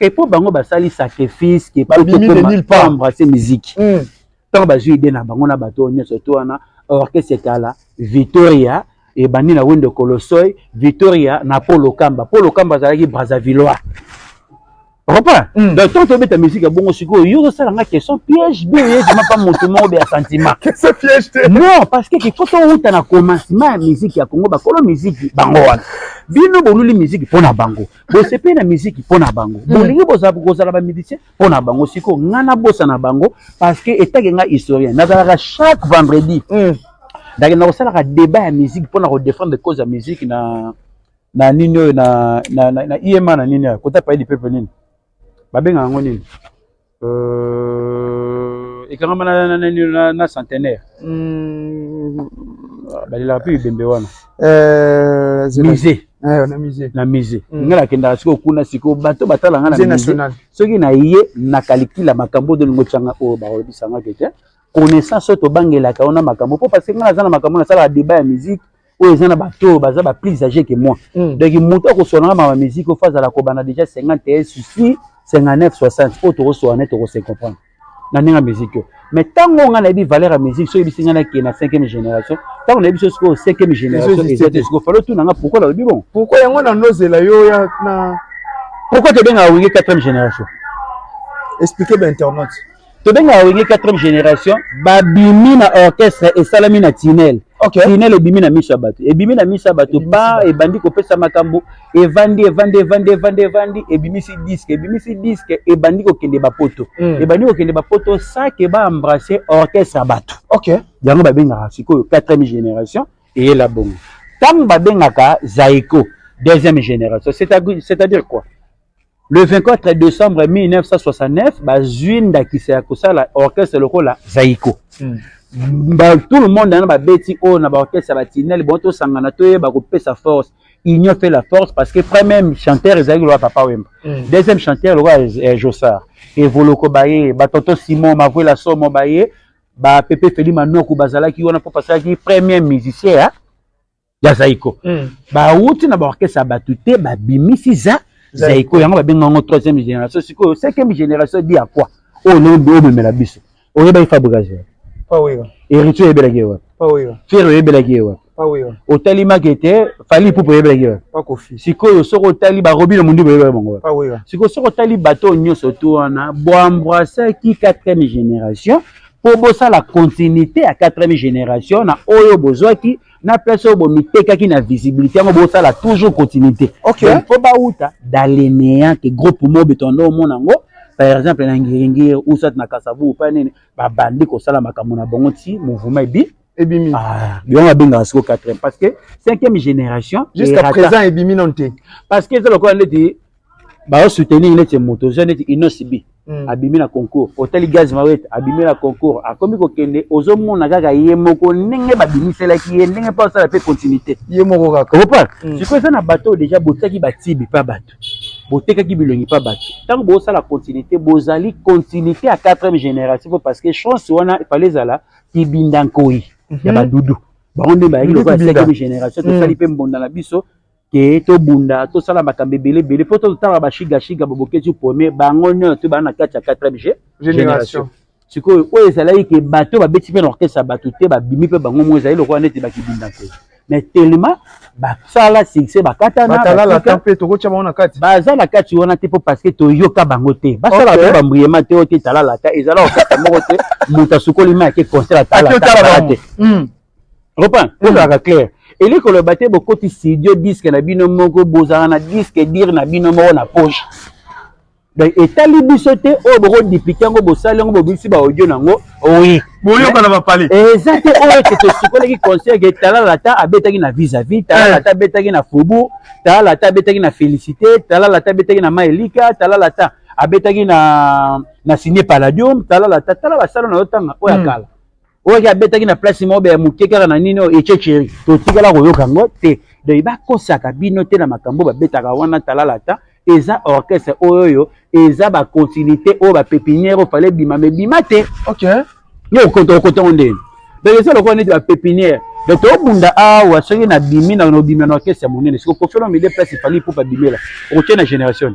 Et pour bango basali sacrifice que pour pas embrasser musique. Mm. Tant bazui idée na bango na bato nyonso to wana orchestre kala Victoria ebandi na wendo kolosoy victoria na polo kamba polo kamba azalaki brazzavillois repas mm. donc tant tobeta musique ya bongo sikoyo yo ozosala nga question piège bien oyezima mpa motu moko be ya sentiment non parce que kifo towuta na commencement ya musique ya congo bakolo musique bango wana bino boluli musique mpo na bango bosepeli na miziki mpo na bango hmm. bolingi kozala bamusicien mpo na bango sikoyo ngai nabosa na bango parce que etake ngai historien nazalaka chaque vendredi hmm. nakenda kosalaka débat ya musique mpo na kodefendre cause ya musique na na nini oyo na, na, na, na ima na nini oyo kota paye lipepe nini babengaka yango nini Euh, ekangama na, na, na, na centenaire mm. balelaka mpe bibembe wana euh, musée eh, na musée na musée mm. ngai nakendaka sikoyo kuna sikoyo bato batala ngai na musée soki na ye nakalikila makambo odo lingo tyanga oyo bakolobisangaki te connaissance oyo tobangelaka wana makambo mpo parce ngai naza na makambo nasalaka débat ya musique oyo eza na bato oyo baza ba plus age que moi mm. donc moto akoswanaka ma musique oyo fazala kobanda déjà 51 souci 59 60 oyo tokoswana tokose comprendre na ndenge ya musique oyo mais ntango ngai nayebi valeur ya musique soki ebisi ngai nake na cinquième génération ntango nayebi so sikoyo cinquième génération eza te sikoyo falo tuna ngai pourkoi nalobi bongo pourkoi yango na nozela yo ya na pourkoi tobengaka wenge quatrième génération expliquer bainternaute tobengaka wenge 4 génération babimi na orchestre esalami na tinel okay. tinel ebimi na miso ya bato ebimi na miso ya bato ba ebandi kopesa makambo evandi evandi evandi evandi evandi ebimisi diske ebimisi diske ebandi kokende bapoto mm. ebandi kokende bapoto sake baembrasse orchestre ya bato okay. yango babengaka sikoyo 4 génération eyela bongo ntango babengaka zaiko deuxième génération c'est-à-dire quoi Le 24 decembre 1969, bazui ndakisa ya kosala orchestre lokola Zaiko. Mm. Ba, tout le monde na babeti oyo na baorchestre ya batinel bon tosangana toyeba kopesa force union fait la force parce que premier chanteur ezalaki lokola papa wemba mm. deuxième chanteur lokola eh, josar evoloko baye batonto simon mavuela somo baye bapepe feli manoku bazalaki wana mpo basalaki premier musicien ya ya zaiko mm. bawuti na baorkestre ya bato te babimisi za zaiko yango babenga yango troisième génération sikoyo cinquième génération di ya kua oyo lobi omemela biso oyebaki fabrikage wapi héritier oyebelaki ye wapi fiere oyebelaki ye wapi otalimaki ete fali ipupe oyebelaki wapi sikoyo soki otali barobino mondi boyebelaki bango wapi sikoyo soki otali bato oyo nyonso to wana boambrasaki quatrième génération mpo bosala continuité ya quatrième génération na oyo bozwaki na place oyo bomitekaki na visibilité yango bosala toujours continuité okay. mpo bauta dalenea ke groupe mobe tondo omona yango par exemple na ngiringiri ou soit na kasavu upa nini babandi kosala makambo na bango ti mouvement ebi ebimi ah, yango abengaka siko quatrième parce que cinquième génération jusqu'à présent ebimi nano te parce que eza lokola ndeti bazo soutenir neti moto oza neti Innoss B mm. abimi na concours otali Gaz Mawete abimi na concours akomi kokende ozomona kaka ye moko ndenge babimiselaki ye ndenge mpo asala mpe continuité ye moko kaka opa mm. sikoyo eza na bato oyo deja botiaki batibi mpa bato botekaki bilongi mpa bato ntango bosala continuité bozali continuité ya 4e génération mpo parce que chance wana efale ezala kibinda nkoi ya mhm. badudu bango nde bayaki lokola 5e génération tosali mm. mpe mbonda na biso ke tobunda tosala makambo ebele ebele mpo totala bashigashiga babokesi premier bango nyonso baa na kati ya 4 g génération sikoyo oyo ezalaki ke bato babeti mpe na orchestre ya bato te babimi mpe bango mo ezali lokola neti bakibunda te mais tellement basala succès bakatanaatalala mpe tokotya bango na kati baza na kati wana te mpo parce que toyoka bango te basala mpe bambriema te oyo te talalata ezala orchestre moko te moto asukoli mai ake concert atalata te Opa, hmm. ozalaka clair. Eli koloba te bokoti studio disque na bino moko bozala na disque dire na bino moko na poche. Donc etali biso te oyo boko dupliquer yango bosali yango bobimisi ba audio nango. Oui. Boyoka na ba palais. Eza te oyo te tosukolaki concert ke talala ta abetaki na vis à vis, talala eh. ta abetaki na fobu, talala ta abetaki na félicité, talala ta abetaki na maelika, talala ta abetaki na na signé palladium, talala ta talala sala na yo tanga oya hmm. kala. oyo ki abetaki na place moko ya moke kaka na nini oyo echecheri totikala koyoka yango te donc bakosaka bino te na makambo babetaka wana talalata eza orchestre oyo oyo eza bacontinuité oyo bapepinière oyo fale bima me bima te okay. yo okotongo ndeni donc eza lokola neti bapepinière donc tobunda awa soki nabimi na nobima na orchestre ya monene siko kofi olomide place efali ipupa bimela okotie na génération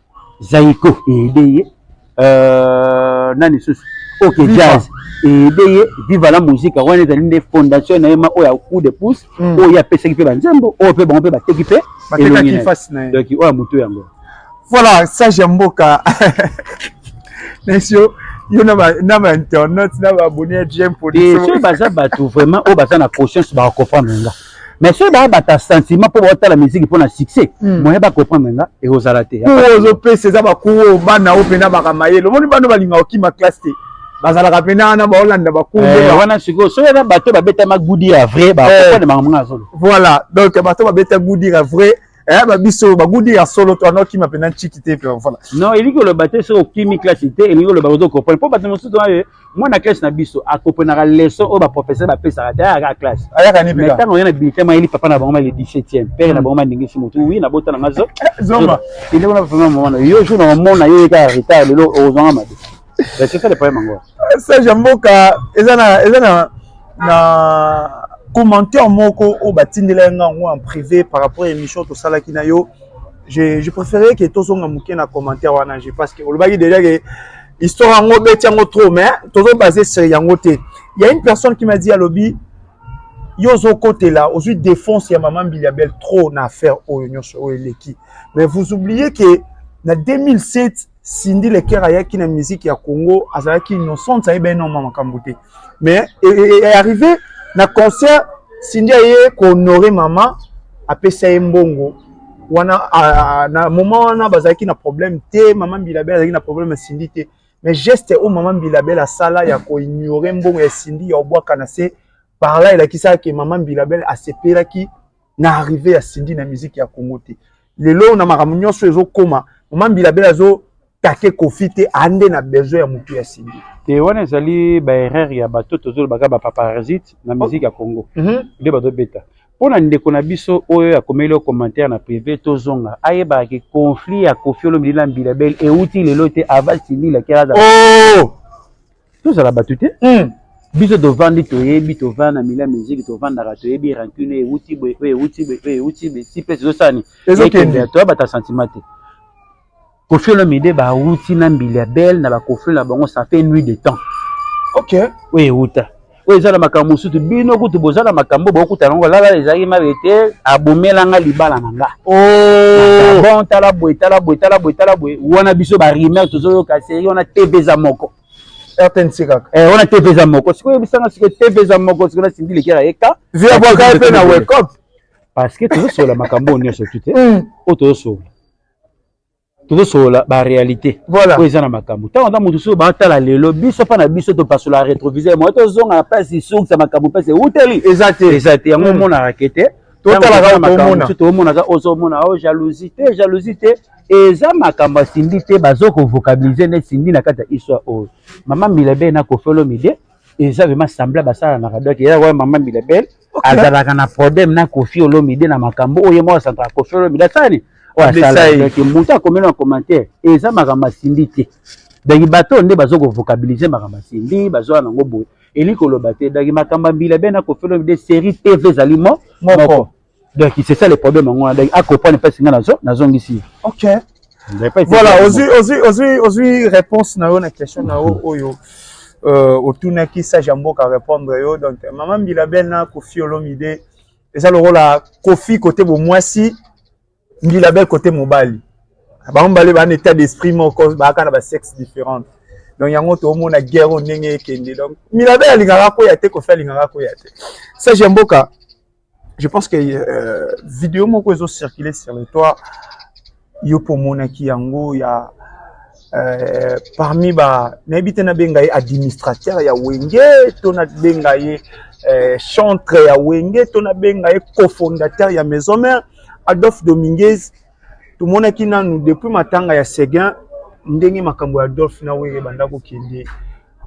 Zaiko ede ye euh, nani susu ok jazz ede ye viva la musique wana ezali nde fondation na ye ma oyo ya coup de pouce mm. oyo ye apesaki mpe banzembo oyo mpe bango mpe bateki mpe elongi na ye donc oyo ya motu yango voilà sage ya mboka nesi yo yo na bainternet na baabonne ya jmpo soki baza bato vraiment oyo baza na conscience bakocomprendre nga mais soki baya bata sentiment mpo baotala miziki mpo na succès hmm. moyen bacomprendre nga ekozala te kuo ozopesa eza bakuo oyo bana oyo mpena baka mayele omoni bana balingaka okima classe te bazalaka mpena wana baolanda bakuo eh, wana sikoyo soki eza bato babetama gudi ya vrai bakokwane eh. makambo nga azolo voilà donc bato babeta gudi ya vrai eh ba biso ba gudi ya solo to ano kima pena chiki te pe voilà non il ko loba te so kimi classe te il ko loba ko comprendre po bato mosusu aye mwana classe na biso a comprenaka leçon oyo ba professeur ba pesaka te ayaka classe ayaka ni peka tango yana bulletin ma yeli papa na bango ma le 17e père na hmm. bango ma ndingi si mutu oui na bota na ngazo eh, zoma il ko na vraiment maman yo jour na mona yo ka retard lelo ozanga mabe sage ya mboka eza na eza na na commentaire moko oyo batindela yanga yango en privé par rapport ya émission tosalaki na yo je, je préférais que tozonga moke na commentaire wana je parce que olobaki déjà que histoire yango obeti yango trop mais tozo base sur yango te il y a une personne qui m'a dit alobi yo ozokotela ozwi défense ya mama mbili ya belle trop na affaire oyo nyonso oyo eleki mais vous oubliez que na 2007 Cindy Leker ayaki na musique ya Congo azalaki innocente ayeba enorme makambo te mais arrivé na concert Cindy aye ko honorer mama apesa ye mbongo wana na moment wana bazalaki na problème te mama Mbila Bel azalaki na problème ya Cindy te mais geste oyo mama Mbila Bel asala ya ko ignorer mbongo ya Cindy ya obwaka na se par là elakisaki mama Mbila Bel asepelaki na arrive ya Cindy na musique ya Congo te lelo na makambo nyonso ezokoma mama mbila bela azo take kofi te ande na besoin ya motu ya Cindy te wana ezali ba erreur ya bato tozolobaka ba paparazite na musique ya Congo mm -hmm. nde bazobeta mpo na ndeko na biso oyo akomeli yo commentaire na prive tozonga ayebaka ke conflit ya kofi olomidi na mbila bele euti lelo te ava Cindy lakela oh! tozala bato te hmm. biso tovandi toyebi tovanda na milia miziki tovandaka toyebi rancune euti boye oyo euti boye oyo euti boye si mpe ezosani ezokende toyabata sentiment te kofi olomide bauti na mbili ya bele na bakofi na bango ça fait nuit de temps ok oyo euta oyo eza na makambo mosusu bino kutu boza na makambo bokutana yango lala ezalaki mabe te abomela nga libala na nga oh! bon tala boye tala boye tala boye tala boye wana biso barimer tozoyoka seri wana tv eza moko rtnc kaka eh, wana tv eza moko sikoyo oyebisanga sikoyo tv eza moko sikoyo nasimbi lekela yeka viabwaka mpe na wekop parce que tozosolola makambo oyo nyonso tu te hmm. oyo tozosolola tozosolola ba réalité voilà. oyo eza na makambo ntango ata moto soki batala lelo biso mpa na biso topasola rétroviseur moya tozonga na place isukisa makambo mpasi euteli eza te eza te yango omonaka ke te tomonaka ozomona o jalousie te jalousie te eza makambo asindi te bazo kovocabilise nde sindi na kati ya histoire oyo mama milabel na kofi olomide eza vraimen sembla basalanaka donc eza mama milabel Okay. azalaka na problème na kofi olomide na makambo oyo ye moko asantaka kofi olomide asani oyo asalaki moto akomeli na commentaire eza makambo asimbi te donc bato nde bazokovocabilise makambo asimbi bazoya nango boye elingi koloba te donc makambo ya mbila be na kofi olomide série tv ezali mo moko donc c'est ça le problème yango wana donc acomprendre mpasi ngai nazongisi okay. Voilà, ozui, ozui, ozui, ozui réponse na yo na question na yo oyo euh, otunaki sage ya mboka répondre yo donc mama mbila bel na kofi olomide eza lokola kofi kote bomwasi mbila bel kote mobali bango mibale baa na état d'esprit moko baaka na basexe différente donc yango toomona guerre oyo ndenge ekende donc mbila bel alingaka koya te kofi alingaka koya te sage ya mboka je pense que euh, video moko ezo circuler sur le toit yo mpo omonaki yango ya euh, parmi ba nayebi te nabenga ye administrateur ya wenge to nabenga ye euh, chantre ya wenge to nabenga ye cofondateur ya maison mère adolphe dominguez tomonaki nanu depuis matanga ya seguin ndenge makambo ya adolphe na wenge ebanda kokende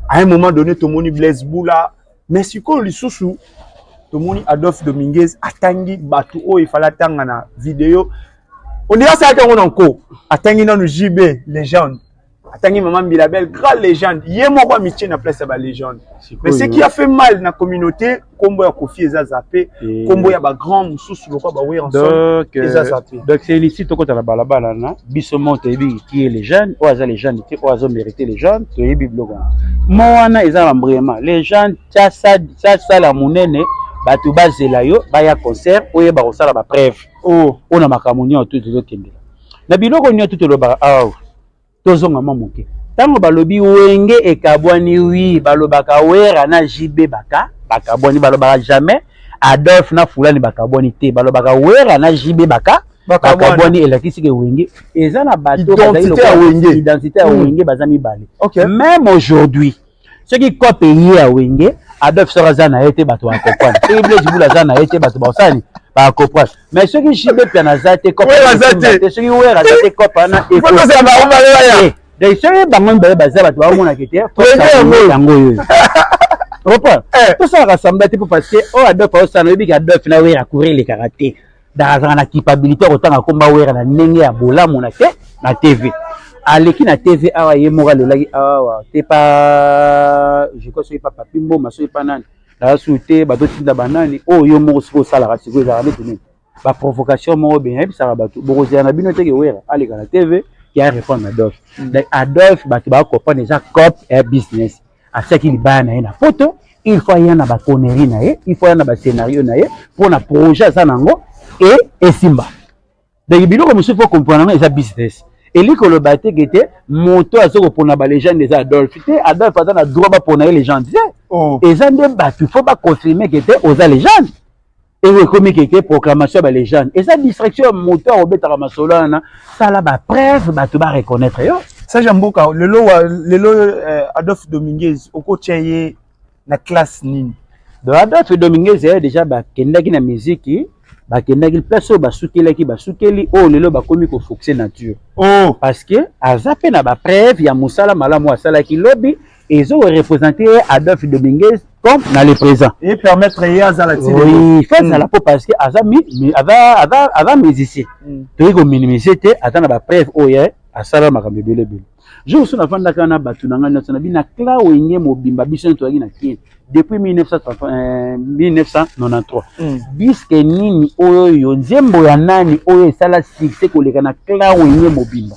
à un moment donné tomoni blaise bula Mais sikoyo lisusu tomoni Adolphe Dominguez atangi bato oyo efale atanga na video ondira asalaki yango na nko atangi nanu JB legende atangi mama Mbilabel grand legende ye moko amitie na place ya ba legende mais ce qui a fait mal na communauté nkombo ya Koffi eza zape nkombo ya bagrand mosusu lokola baweranson eza euh, zape donc c'est ici tokota na balabala na biso moko toyebi ki e le jeune oyo aza le jeune te oyo azo mérite le jeune toyebi biloko wana mo wana eza na mbrema le jeune sasala monene bato bazela yo baya concert oyeba kosala bapreuve oyo oh. na makambo nyonso to tozokendela na biloko nyonso to tolobaka awa tozonga mwa moke ntango balobi wenge ekabwani wi balobaka wera na jb baka bakabwani balobaka jamais adolphe na fulani bakabwani te balobaka wera na jb baka bakabwani elakisi ke wenge eza na bato identité ya wenge baza mibale meme aujourd'hui soki cote eye ya wenge adolphe soko aza na ye te bato bakoprane soki blaise bula aza na ye te bato bakosani bakoprane mais soki jibe piana aza te te soki were aza te cope wana donc soki bango mibale baza bato baomonaka te yango oyo okoprane tosalaka samba te mpo parce que oyo adolphe aosana oyebiki adolphe na were akourir lekaka te nazalaka na culpabilité ya kotanga komba wera na ndenge ya bolamu na te na tv aleki na tv awa ye moko alelaki awa te pa jeko soki pa papi mboma soki pa nani naza suu te bazotinda banani oyo oh, yo moko soki osalaka sikoyo ezalaka neti nini baprovocation moko benya yebisaka bato bokozela na bino teke wera aleka na tv ya répondre na adolphe mm. adolphe bato bakoprendre eza cop ya business atiaki libaya na ye na poto il faut aya na baconnerie na ye il faut aya na bascenario na ye mpo na projet aza na yango e esimba donc biloko mosusu mpo comprendre yango eza business elingi koloba te ke te moto aza kopona balegende eza adolphe te adolphe aza na droit bapona ye legende te oh. eza nde bato il faut baconfirme ke te oza legende eko ekomi keke proclamation ya ba legende eza distraction ya moto ya kobetaka masolo wana sala ba preuve bato ba reconnaître yo sage ya mboka lelo wa lelo eh, adolphe dominguez okotya ye na classe nini donc adolphe dominguez ye déjà bakendaki na miziki bakendaki place oyo basukelaki basukeli oyo lelo bakomi kofoxe nature oh. parce que aza mpe na bapreuve ya mosala malamu asalaki lobi ezo representer ye Adolphe Dominguez comme na le présent et permettre ye azala ti oui fait mm. la peau parce que aza mi aza aza aza musicien mm. toyei ko minimiser te aza na ba preuve oyo ye asala makambo ebele ebele jour so nafandaka na bato na ngai nyonso na bino na cla wenge mobimba biso nyonso toyaki na kin depuis 1993 diske euh, mm. nini oyo yo nzembo ya nani oyo esala succès koleka na cla wenge mobimba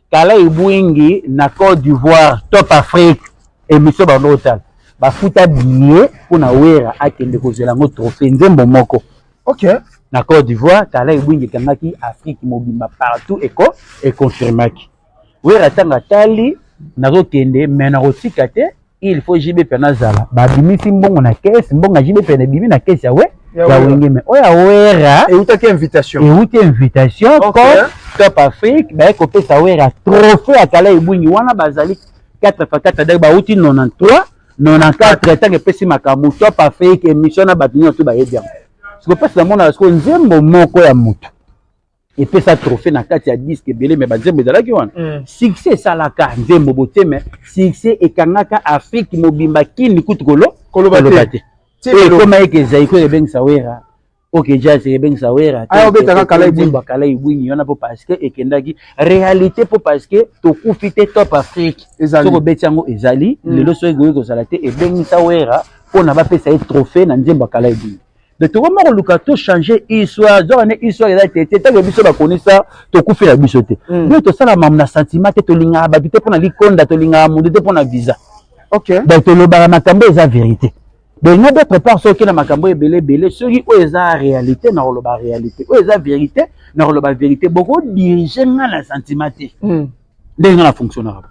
Kala ebwingi na Cote d'Ivoire Top Afrique emission bando kotala bafuta billet mpo na Wera akende kozela yango trophée nzembo moko okay. na Cote d'Ivoire Kala ebwingi ekangaki Afrique mobimba partout eko econfirmaki Wera ntango atali nazokende me nakotika te il faut JB pe nazala ba bimisi mbongo na caisse mbongo JB pe na bimi na caisse ya we ya wenge mais oya wera et utaki invitation et uti invitation okay. comme Top Afrique ba ko pesa wera trophée ya kala ebungi wana bazali 4 fois 4 dai ba uti 93 94 tango epesi makambo Top Afrique émission na bato nyonso bayebi yango sikoyo mpasi namonaka sikoyo nzembo moko ya moto epesa trophée na kati ya disque ebele me banzembo ezalaki wana mm. succès esalaka nzembo botie me succès ekangaka afrique mobimba kini kutu kolo koloba te ekoma eke zaiko ebengisa wera oke jazz ebengisa wera ah, obetaka kalaibwimba kalaibwinyi wana mpo parceke ekendaki réalité mpo parceke tokufi te top afrique soki obeti yango ezali mm. lelo soki ekoki kozala te ebengisa wera mpo na bapesa ye trophée na nzembo ya kalaibwinyi de tokoma koluka to changer histoire zoka ne histoire eza te te ntango biso bakonisa tokufela biso te mm. nde tosala mamu na sentiment te tolingaka bato te mpo na likonda tolingaka moto te mpo na visa okay. donc tolobaka makambo eza verité donc na d'autre part soki na makambo ebele ebele soki oyo eza réalité na koloba réalité oyo eza vérité na koloba vérité bokodirige nga na sentiment te mm. ndenge nga na fonctionnaka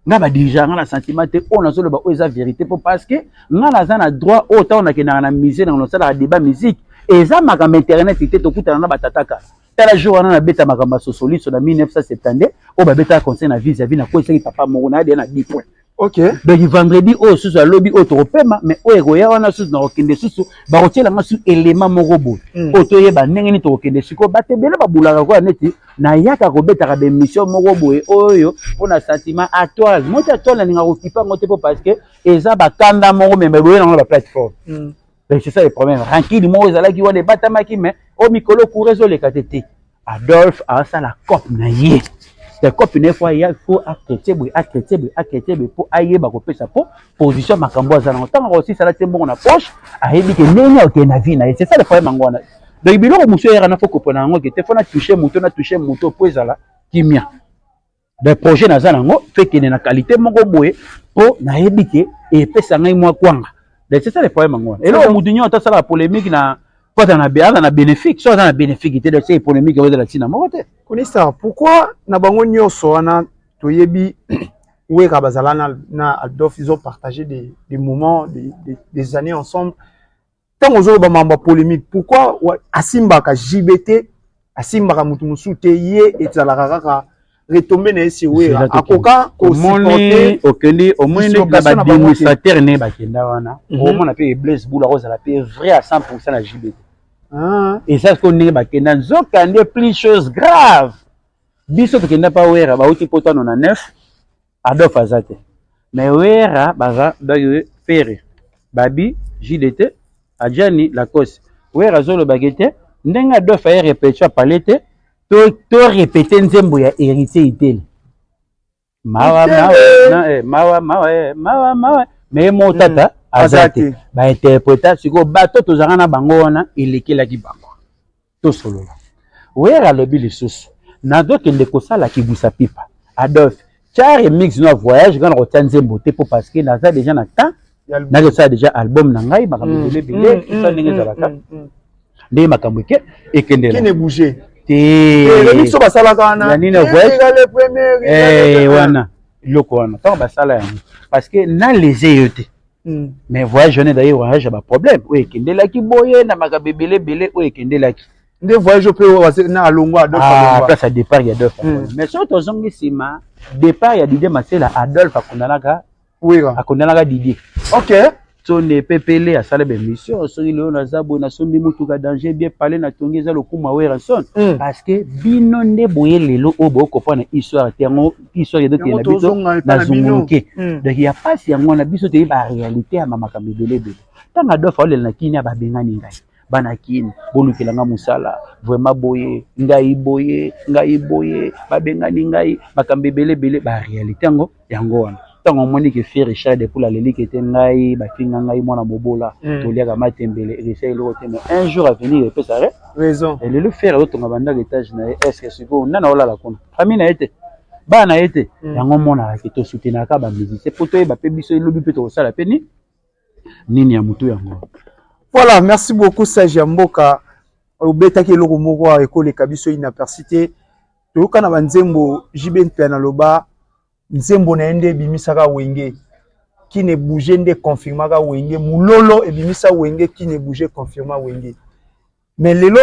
nga ba dirige nga na sentiment te oyo nazoloba oyo eza verité mpo parce que nga naza na droit oyo ntango nakendaka na musée nango nasalaka débat musique eza makambo internet te tokutana na batata kala tala jour wana nabeta makambo ya sosoliso na 1972 oyo babetaka conseil na vis à vis nakwesaki papa moko na yadea na 10 point okay. donc vendredi oyo susu alobi oyo tokopema mais oyo ekoya wana susu nakokende susu bakotiela nga susu elema moko boye mm. oyo toyeba ndenge nini tokokende sikoyo bato ebele babulaka koya neti nayaka kobetaka bemission moko boye oyo mpo na sentiment atoile moi ti atoile nalinga kokipa yango te mpo parce que eza bakanda moko me boye nango na baplateforme mm. donc c'est ça le problème rankili moko ezalaki wana ebatamaki mais o oh, mikolo coura ezoleka te te adolphe asala cope na ye te cope na ye fo aya fo akrete boye akrete boye akrete boye mpo ayeba kopesa mpo position ya makambo aza nango ntango akosisa alati mbongo na poche ayebi ke ndenge akokende na vie na ye c'est ça le problème yango wana donc biloko mosusu eyaka na fo kopona yango ke te fo na touche moto na touche moto mpo ezala kimia donc projet naza nango mpe ekende na qualité moko boye mpo nayebi ke epesa ngai mwa kwanga donc c'est ça le problème yango wana eloko moto nyonso asalaka polémique na mpo aza na bénéfique so aza na bénéfique te donc se polémique oyo ezala ntina moko te kunisa pourquoi na bango nyonso wana toyebi wera bazala na, na adolf ils ont partagé des, des moments des, des, des années ensemble ntango ozoloba mambo ya polémique pourquoi asimbaka jb te asimbaka moto mosusu te ye ezalaka kaka retombe na ye si wera akoka kosupporte okendi omoni ndeti na baadministrateur ne bakenda wana mhm. omona mpe blaise bula akozala mpe vrai à 100 pourcent na jb te ah. eza sikoyo ndenge bakenda nzoka nde plus chose grave biso tokenda pa wera bauti poto ano na neuf adolf aza te mais wera baza bayo pere babi jdt ajani lacoste wera azolobaki te ndenge adolf aye repetio apale te to, to repete nzembo ya heritier itele mawa mawa na eh mawa mawa eh mawa mawa mais mo hmm. tata aza te ba interpreta siko bato tozanga na bango wana elekelaki bango tosolola wera alobi lisusu nazokende kosala kibwisa pipa adolphe tya remix no ya voyage nga na kotya nzembo te mpo parce que naza deja na temps nake osala deja album na ngai makambo mm. ebele ebele mm, esa mm, ndenge ezalaka ndenge makambo eke ekendela teso eh, basalaka wananini eh, wana eloko wana ntango basala yango parce que na lese yo te mais voyage wana ezali voyage ya baproblème oyo ekendelaki boye na makambo ebele ebele oyo ekendelaki nde voyage mpe na alongwa adolphe ah, place ya départ ya adolphe mais soki tozongi nsima départ ya dide masela adolphe akundanaka wera akondanaka didie okay tsone pepele asala bemission soki lelo naza boye nasombi motuka danger bien pale na tongi eza lokuma werrason mm. parce que bino nde boye lelo oyo bokoprendre histoire te yango histoire ezokende biso nazunguluke mm. donc ya mpasi yango wana biso toyebi barealité ya makambo ebele ebele ntango adolfe aolela na kini ya babengani ngai bana kin bolukela nga mosala vraiment boye ngai boye ngai boye babengani ngai makambo ebele ebele ba réalité yango yango wana ntango omoni ke fe richard depuis alelike te ngai bafinga ngai mwana mobola hmm. toliaka matembele elesa eloko te mais un jour avenir epesa re raison elelo fere azotonga bandako etage na ye estce sikoyo nana olala kuna famille na ye te bana na ye te hmm. yango omonaka ke tosutenaka bamusicien mpo toyeba mpe biso elobi mpe tokosala mpe nini nini ya mutu yango voilà merci beaucoup sage ya mboka obetaki eloko moko awa ekoleka biso inaperci te toyoka na banzembo jb mpe naloba nzembo na ye nde ebimisaka wenge kine bouge nde confirmaka wenge mulolo ebimisa wenge kine bouge confirma wenge mais lelo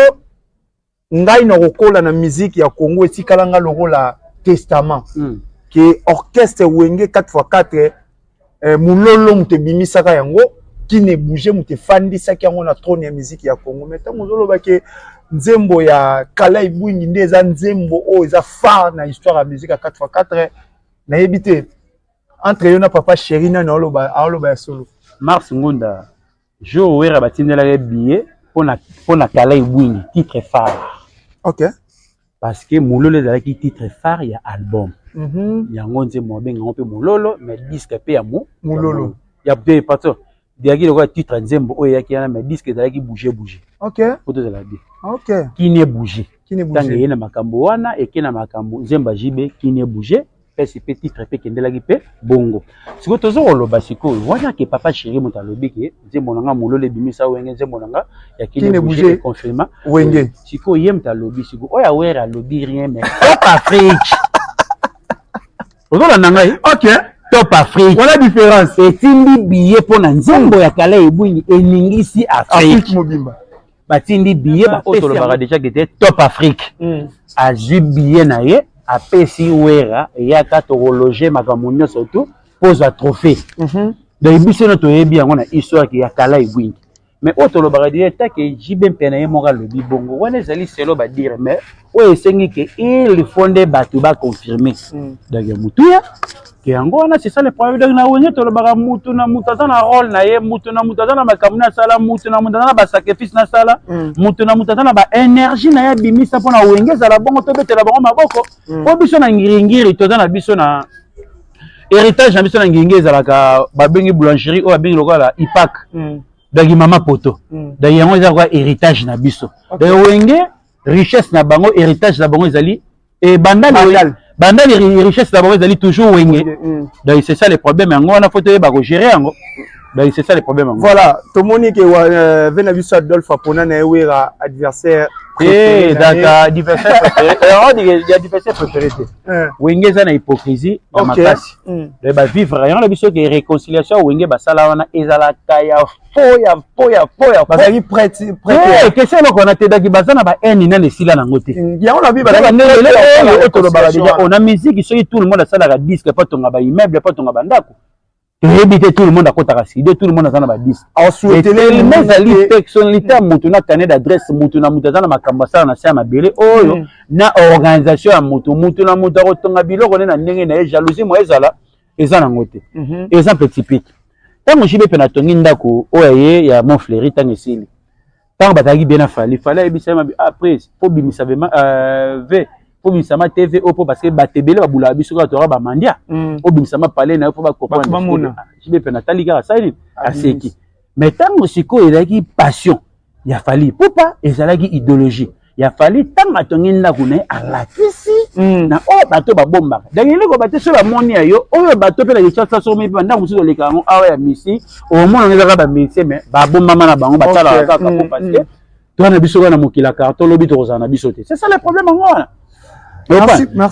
ngai na kokola na musique ya Congo etikala nga lokola testament mm. ke orchestre wenge 4x4 eh, mulolo moto ebimisaka yango kine bouge moto efandisaki yango na trone ya musique ya Congo mais ntango ozoloba ke nzembo ya kala ebwingi nde eza nzembo oyo eza phare na histoire ya musique ya 4x4 nayebi te entre yo na papa chéri nani aoloba ya solo mars ngunda Jour Werra batindelaka ye billet pona pona Kala Ebwingi titre phare. OK. Parce que Mololo ezalaki titre phare ya album. Mm -hmm. Yango nze mo benga ngo pe Mololo mais disque pe ya mo Mololo. Ya pe patron. Diaki lokola titre nzembo oyo eyaki wana mais disque ezalaki bouger bouger. OK. Poto ezala bien. OK. Kine bouger. Kine bouger. Tangi ye na makambo wana eke na makambo nzemba JB kine bouger. pesi mpe titre mpe ekendelaki mpe bongo sikoyo toza koloba sikoyo wana ke papa chéri moto alobi ke nzembo na nga mololo ebimisa wenge nzembo na nga ya kine bouge confirma wenge sikoyo ye moto alobi sikoyo oyo awere alobi rien mais top afrique ozolanda ngai ok top afrique wana différence etindi biye mpo na nzembo ya kala ebwingi eningisi afrique mobimba batindi biye baoyo tolobaka deja kete top afrique hmm. azwi biye na ye apesi wera eyaka tokologe makambo nyonso tu pozwa trophée mhm. donc biso no toyebi yango na histoire ya kala ebwingi mais oyo tolobaka deja take jb mpe na ye moko alobi bongo wana ezali selo badire mais oyo esengi ke il faut nde bato ba confirme mm. donc ya motuya ke yango wana c'est ça le problème donc na wenye tolobaka mutu na mutu aza na role na ye mutu na mutu aza na makambo na asala mutu na mutu aza na basacrifice na asala mm. mutu na mutu aza na baénergie na ye abimisa mpo na wenge ezala bongo tobetela bango maboko mm. mpo biso na ngiringiri toza na biso na héritage na biso na ngiringiri ezalaka babengi boulangerie oyo babengi lokola ipak donc mama poto donc yango eza kwa héritage na biso donc wenge richesse na bango héritage na bango ezali et banda le banda le richesse na bango ezali toujours wenge mm. donc c'est ça le problème yango wana faut toyeba ko gérer yango donc c'est ça le problème yango voilà tomoni ke euh, vena biso Adolphe apona na ewera adversaire eh daka adversaire préféré alors on dit adversaire préféré te eh. wenge eza na hypocrisie na makasi mm. donc ba vivre yango na biso ke réconciliation wenge basala wana ezalaka ya po ya po ya po ya bazalaki prete prete question eloko wana te daki baza na ba haine nani esila nango te mm, yango na bi bazalaki ndenge lelo oyo oyo tolobaka deja ona musique soki tout le monde asalaka disque po atonga ba immeuble po atonga ba ndako toyebi te tout le monde akotaka studio tout le monde aza na ba disque etelema ezali personnalité ya moto na canet d'adresse moto na moto aza na makambo asala na se ya mabele oyo mm. na organisation ya moto moto na moto akotonga biloko nde na ndenge na ye jalousie moye ezala eza nango te mhm. eza mpe typique ntango jibe mpe natongi ndako oyo ya ye ya mont fleuri ntango esili ntango bazalaki bie na fali fali ayebisa ye mabe ah pres mpo bimisa ve euh, mpo bimisama tv oyo mpo parce que bato ebele babulaka biso kaka toyaka bamandia obimisama mm. pale na yo mpo bakokojibe mpe natali kaka sali aseki Mais tango sikoyo ezalaki passion ya Fally Ipupa ezalaki ideologie ya Fally tango atongi ndako na ye alakisi mm. na oyo bato babombaka donc eloko bato soki bamoni ya yo oyo bato mpe na kinshasa soki mipe bandako mosusu oleka yango awa ya misi omona ezaka bamisi me babombama na bango batalaka kaka po mm, parce que mm. toi na biso kaka na mokili ya carton lobi tokozala na biso te c'est ça le problème yango wana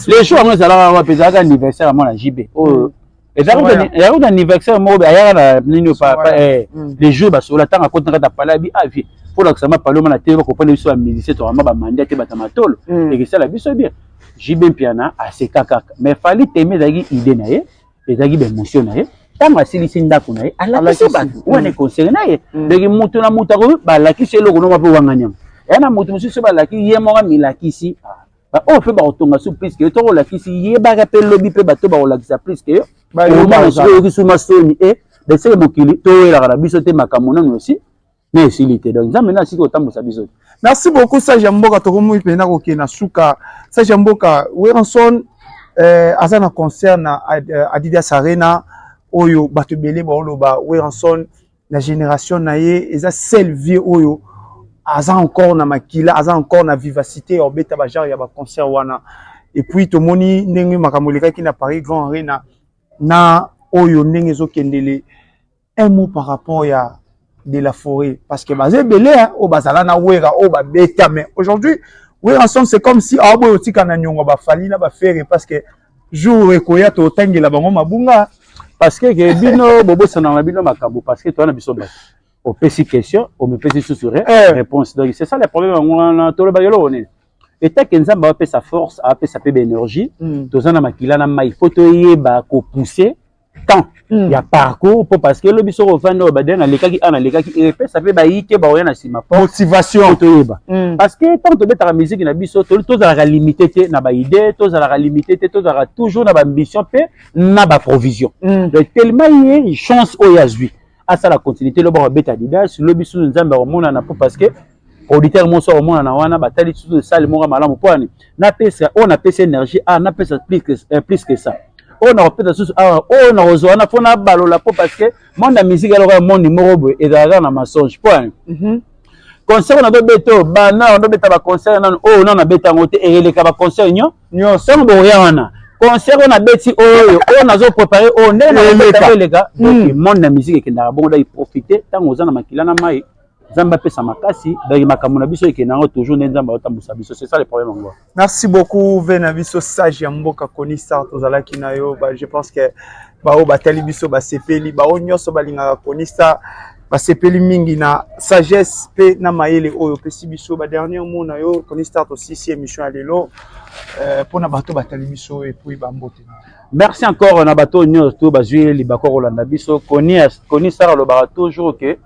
les jours yango ezalaka wapi ezalaka anniversaire ya mwana jb oyo ezalaki na anniversaire moko ayaka na nini eh, mm. les jours basola ntango akoti na kati ya pale abi avie ah, mpo lakisama pale omana te bakopana biso bamusicien tokama bamandi ate bata matolo mm. ekesala biso bien jb mpiana aseka kaka mais fali teme ezalaki idée na ye ezalaki baemotion na ye ntango asilisi ndako na ye alakisi bato wana ekonsere na ye ndenge moto na moto akoki balakisi eloko nonga mpe wanga nyama ya na moto mosusu balaki ye moko amilakisi baoyo mpe bakotonga su pliske yo toko olakisi yebaka mpe lobi mpe bato bakolakisa pliske yo omona soki oyokisi masoni e beseke mokili toyelaka na biso te makambo nano osi na esili te donc nzambe nde asili kotambusa biso te merci beaucoup sage ya mboka tokomi mpenza kokende na suka sage ya mboka weranson eh, aza na concert na eh, adidas arena oyo bato ebele baoloba weranson na génération na ye eza sel vie oyo aza encore na makila aza encore na vivacité ya obeta bagenre ya baconcert wana epuis tomoni ndenge makambo elekaki na paris grand arena na oyo ndenge ezokendele Un mot par rapport ya de la forêt parce que baza ebele hein, oyo bazala na wera oyo babeta mais aujourd'hui wera son c'est comme si aoboya otika na niongo bafali na bafere parce que jour ekoya totangela bango mabunga parce que ke bino bobosana na bino makambo parce que toza na biso bato opesi question omipesi susu eh. réponse donc c'est ça le problème yango wana tolobaka eloko nini etake nzambe apesa force apesa mpe baénergie hmm. toza na makila na mai mpo toyeba kopousse temps mm. ya parcours po parce que lobi soki ofandi oyo badele nalekaki a nalekaki epesa mpe bayike baoya na nsima motivation toyeba mm. parce que ntango tobetaka miziki na biso tozalaka limité te na baidée tozalaka limité te tozalaka toujours na baambition mpe na baprovision mm. donc tellement ye chance oyo azwi asala continuité lobi akobeta adidas lobi susu nzambe akomonana po parce que producteur moso akomonana wana batali susu esali moko malamu mpo ani napesa oyo napesi énergie a ah, napesa plus que, eh, plus que ça oyo nakopesa susu awa ah, oyo nakozwa wana mpo nabalola mpo parce que monde ya musique ya lokola monde moko boye ezalaka na mensonge mpo ani mhm. concert na tobeta oyo bana wana tobeta baconcert nano oyo nano nabeta yango te eyeleka baconcert nyo nyonso ntango bokoya wana concert oyo nabeti oyo oyo nazo prépare oyo ndenge naeleka eleka donc hmm. monde na musique ekendaka bongo dai profite ntango oza na makila na mai Nzambe apesa makasi donc makambo na biso ekenda yango toujours nde Nzambe aotambwisa biso c'est ça le problème yango. Merci beaucoup ve na biso sage ya mboka Koni Star tozalaki na yo ba je pense que baoyo batali biso basepeli baoyo nyonso balingaka Koni Star basepeli mingi na sagesse mpe na mayele oyo opesi biso ba dernier mot na yo Koni Star tosisi émission ya lelo mpo euh, na bato batali biso epuis bambote na merci encore na bato nyonso to bazwi libako kolanda biso koni sara alobaka toujours ke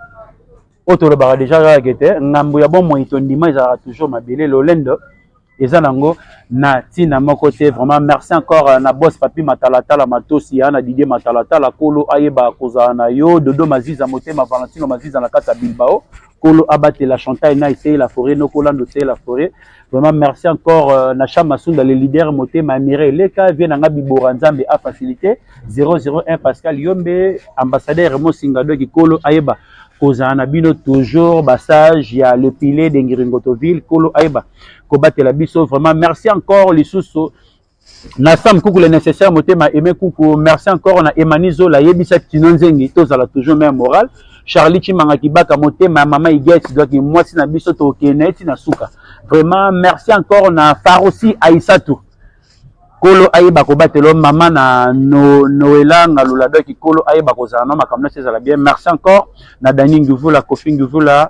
oyo tolobaka deja kaka ke te ngambo ya bomoi tondima ezalaka toujours mabele lolendo eza nango na ntina moko te vraiment merci encore euh, na bos papi matalatala matosi ya na didie matalatala kolo ayeba kozala na yo dodo maziza motema valentino maziza na kati ya bilbao Kolo abatela Chantal na essaye la forêt noko lando essaye la forêt vraiment merci encore euh, na Cham Masunda le leader motema mire leka vie na nga bibora nzambe a facilité 001 Pascal Yombe ambassadeur Mosinga donc kolo ayeba kozala na bino toujours basage ya le pile de Ngiringotoville kolo ayeba kobatela biso vraiment merci encore lisusu na sam kuku le nécessaire motema aimé kuku merci encore na emani zola yebisa tino nzengi tozala toujours mère morale charlie chimanga kibaka motema ya mama igeti doki mwasi na biso tokende na ye ti na suka vraiment merci encore na farosi aisatu kolo ayeba kobatela mama na no, noela ngalula doki kolo ayeba kozala na makambo nyonso ezala bien merci encore na dani ngivula kofi ngivula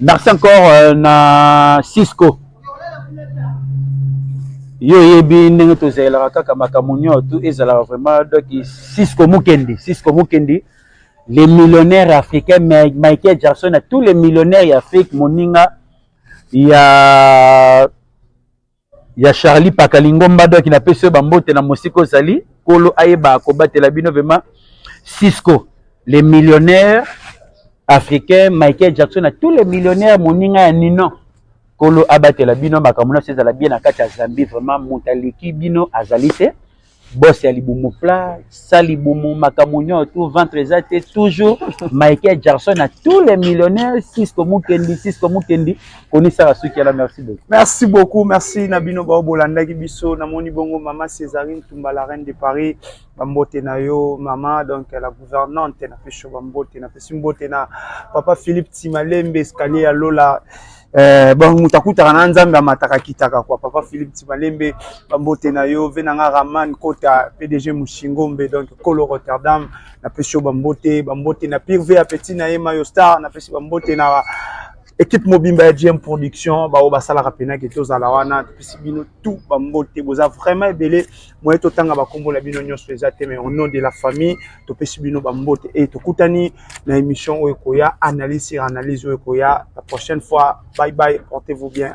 merci encore euh, na cisco yo oyebi ndenge tozalelaka kaka makambo nyonso ezalaka vraiment donc cisco mukendi cisco mukendi les millionnaires africains michael jackson na tous les millionnaires ya afrique moninga ya ya Charlie Paka Lingomba doki na pesi ba mbote na mosika ozali kolo ayeba kobatela bino vraiment Cisco les millionnaires africains Michael Jackson na tous les millionnaires moninga ya Ninon kolo abatela bino makambo na ezala bien na kati ya Zambie vraiment moto aleki bino azali te boss ya libumu plat sa libumu makambo nyonso tout ventre eza te toujours michael jackson na tous les millionnaires cisco mukendi cisco mukendi konisaka suki yana merci beaucoup merci beaucoup merci na bino bao bolandaki biso namoni bongo mama césarine tumba la reine de paris bambote na yo mama donc la gouvernante na pesho bambote napesi mbote na papa philippe timalembe escalier ya lola Eh, bon moto akutaka na nzambe amataka kitaka kwa papa philippe tibalembe bambote na yo ve na nga raman kota pdg mushingombe donc kolo rotterdam napesi yo bambote bambote na pire ve ya petit na ye mayo star napesi bambote na ekipe mobimba ya gm production baoyo basalaka mpena ke tozala wana topesi bino tout bambote boza vraiment ebele moye totanga bakombo na bino nyonso eza te mais au nom de la famille topesi bino bambote e tokutani na émission oyo ekoya analyse sur analyse oyo ekoya la prochaine fois bye bye portez vous bien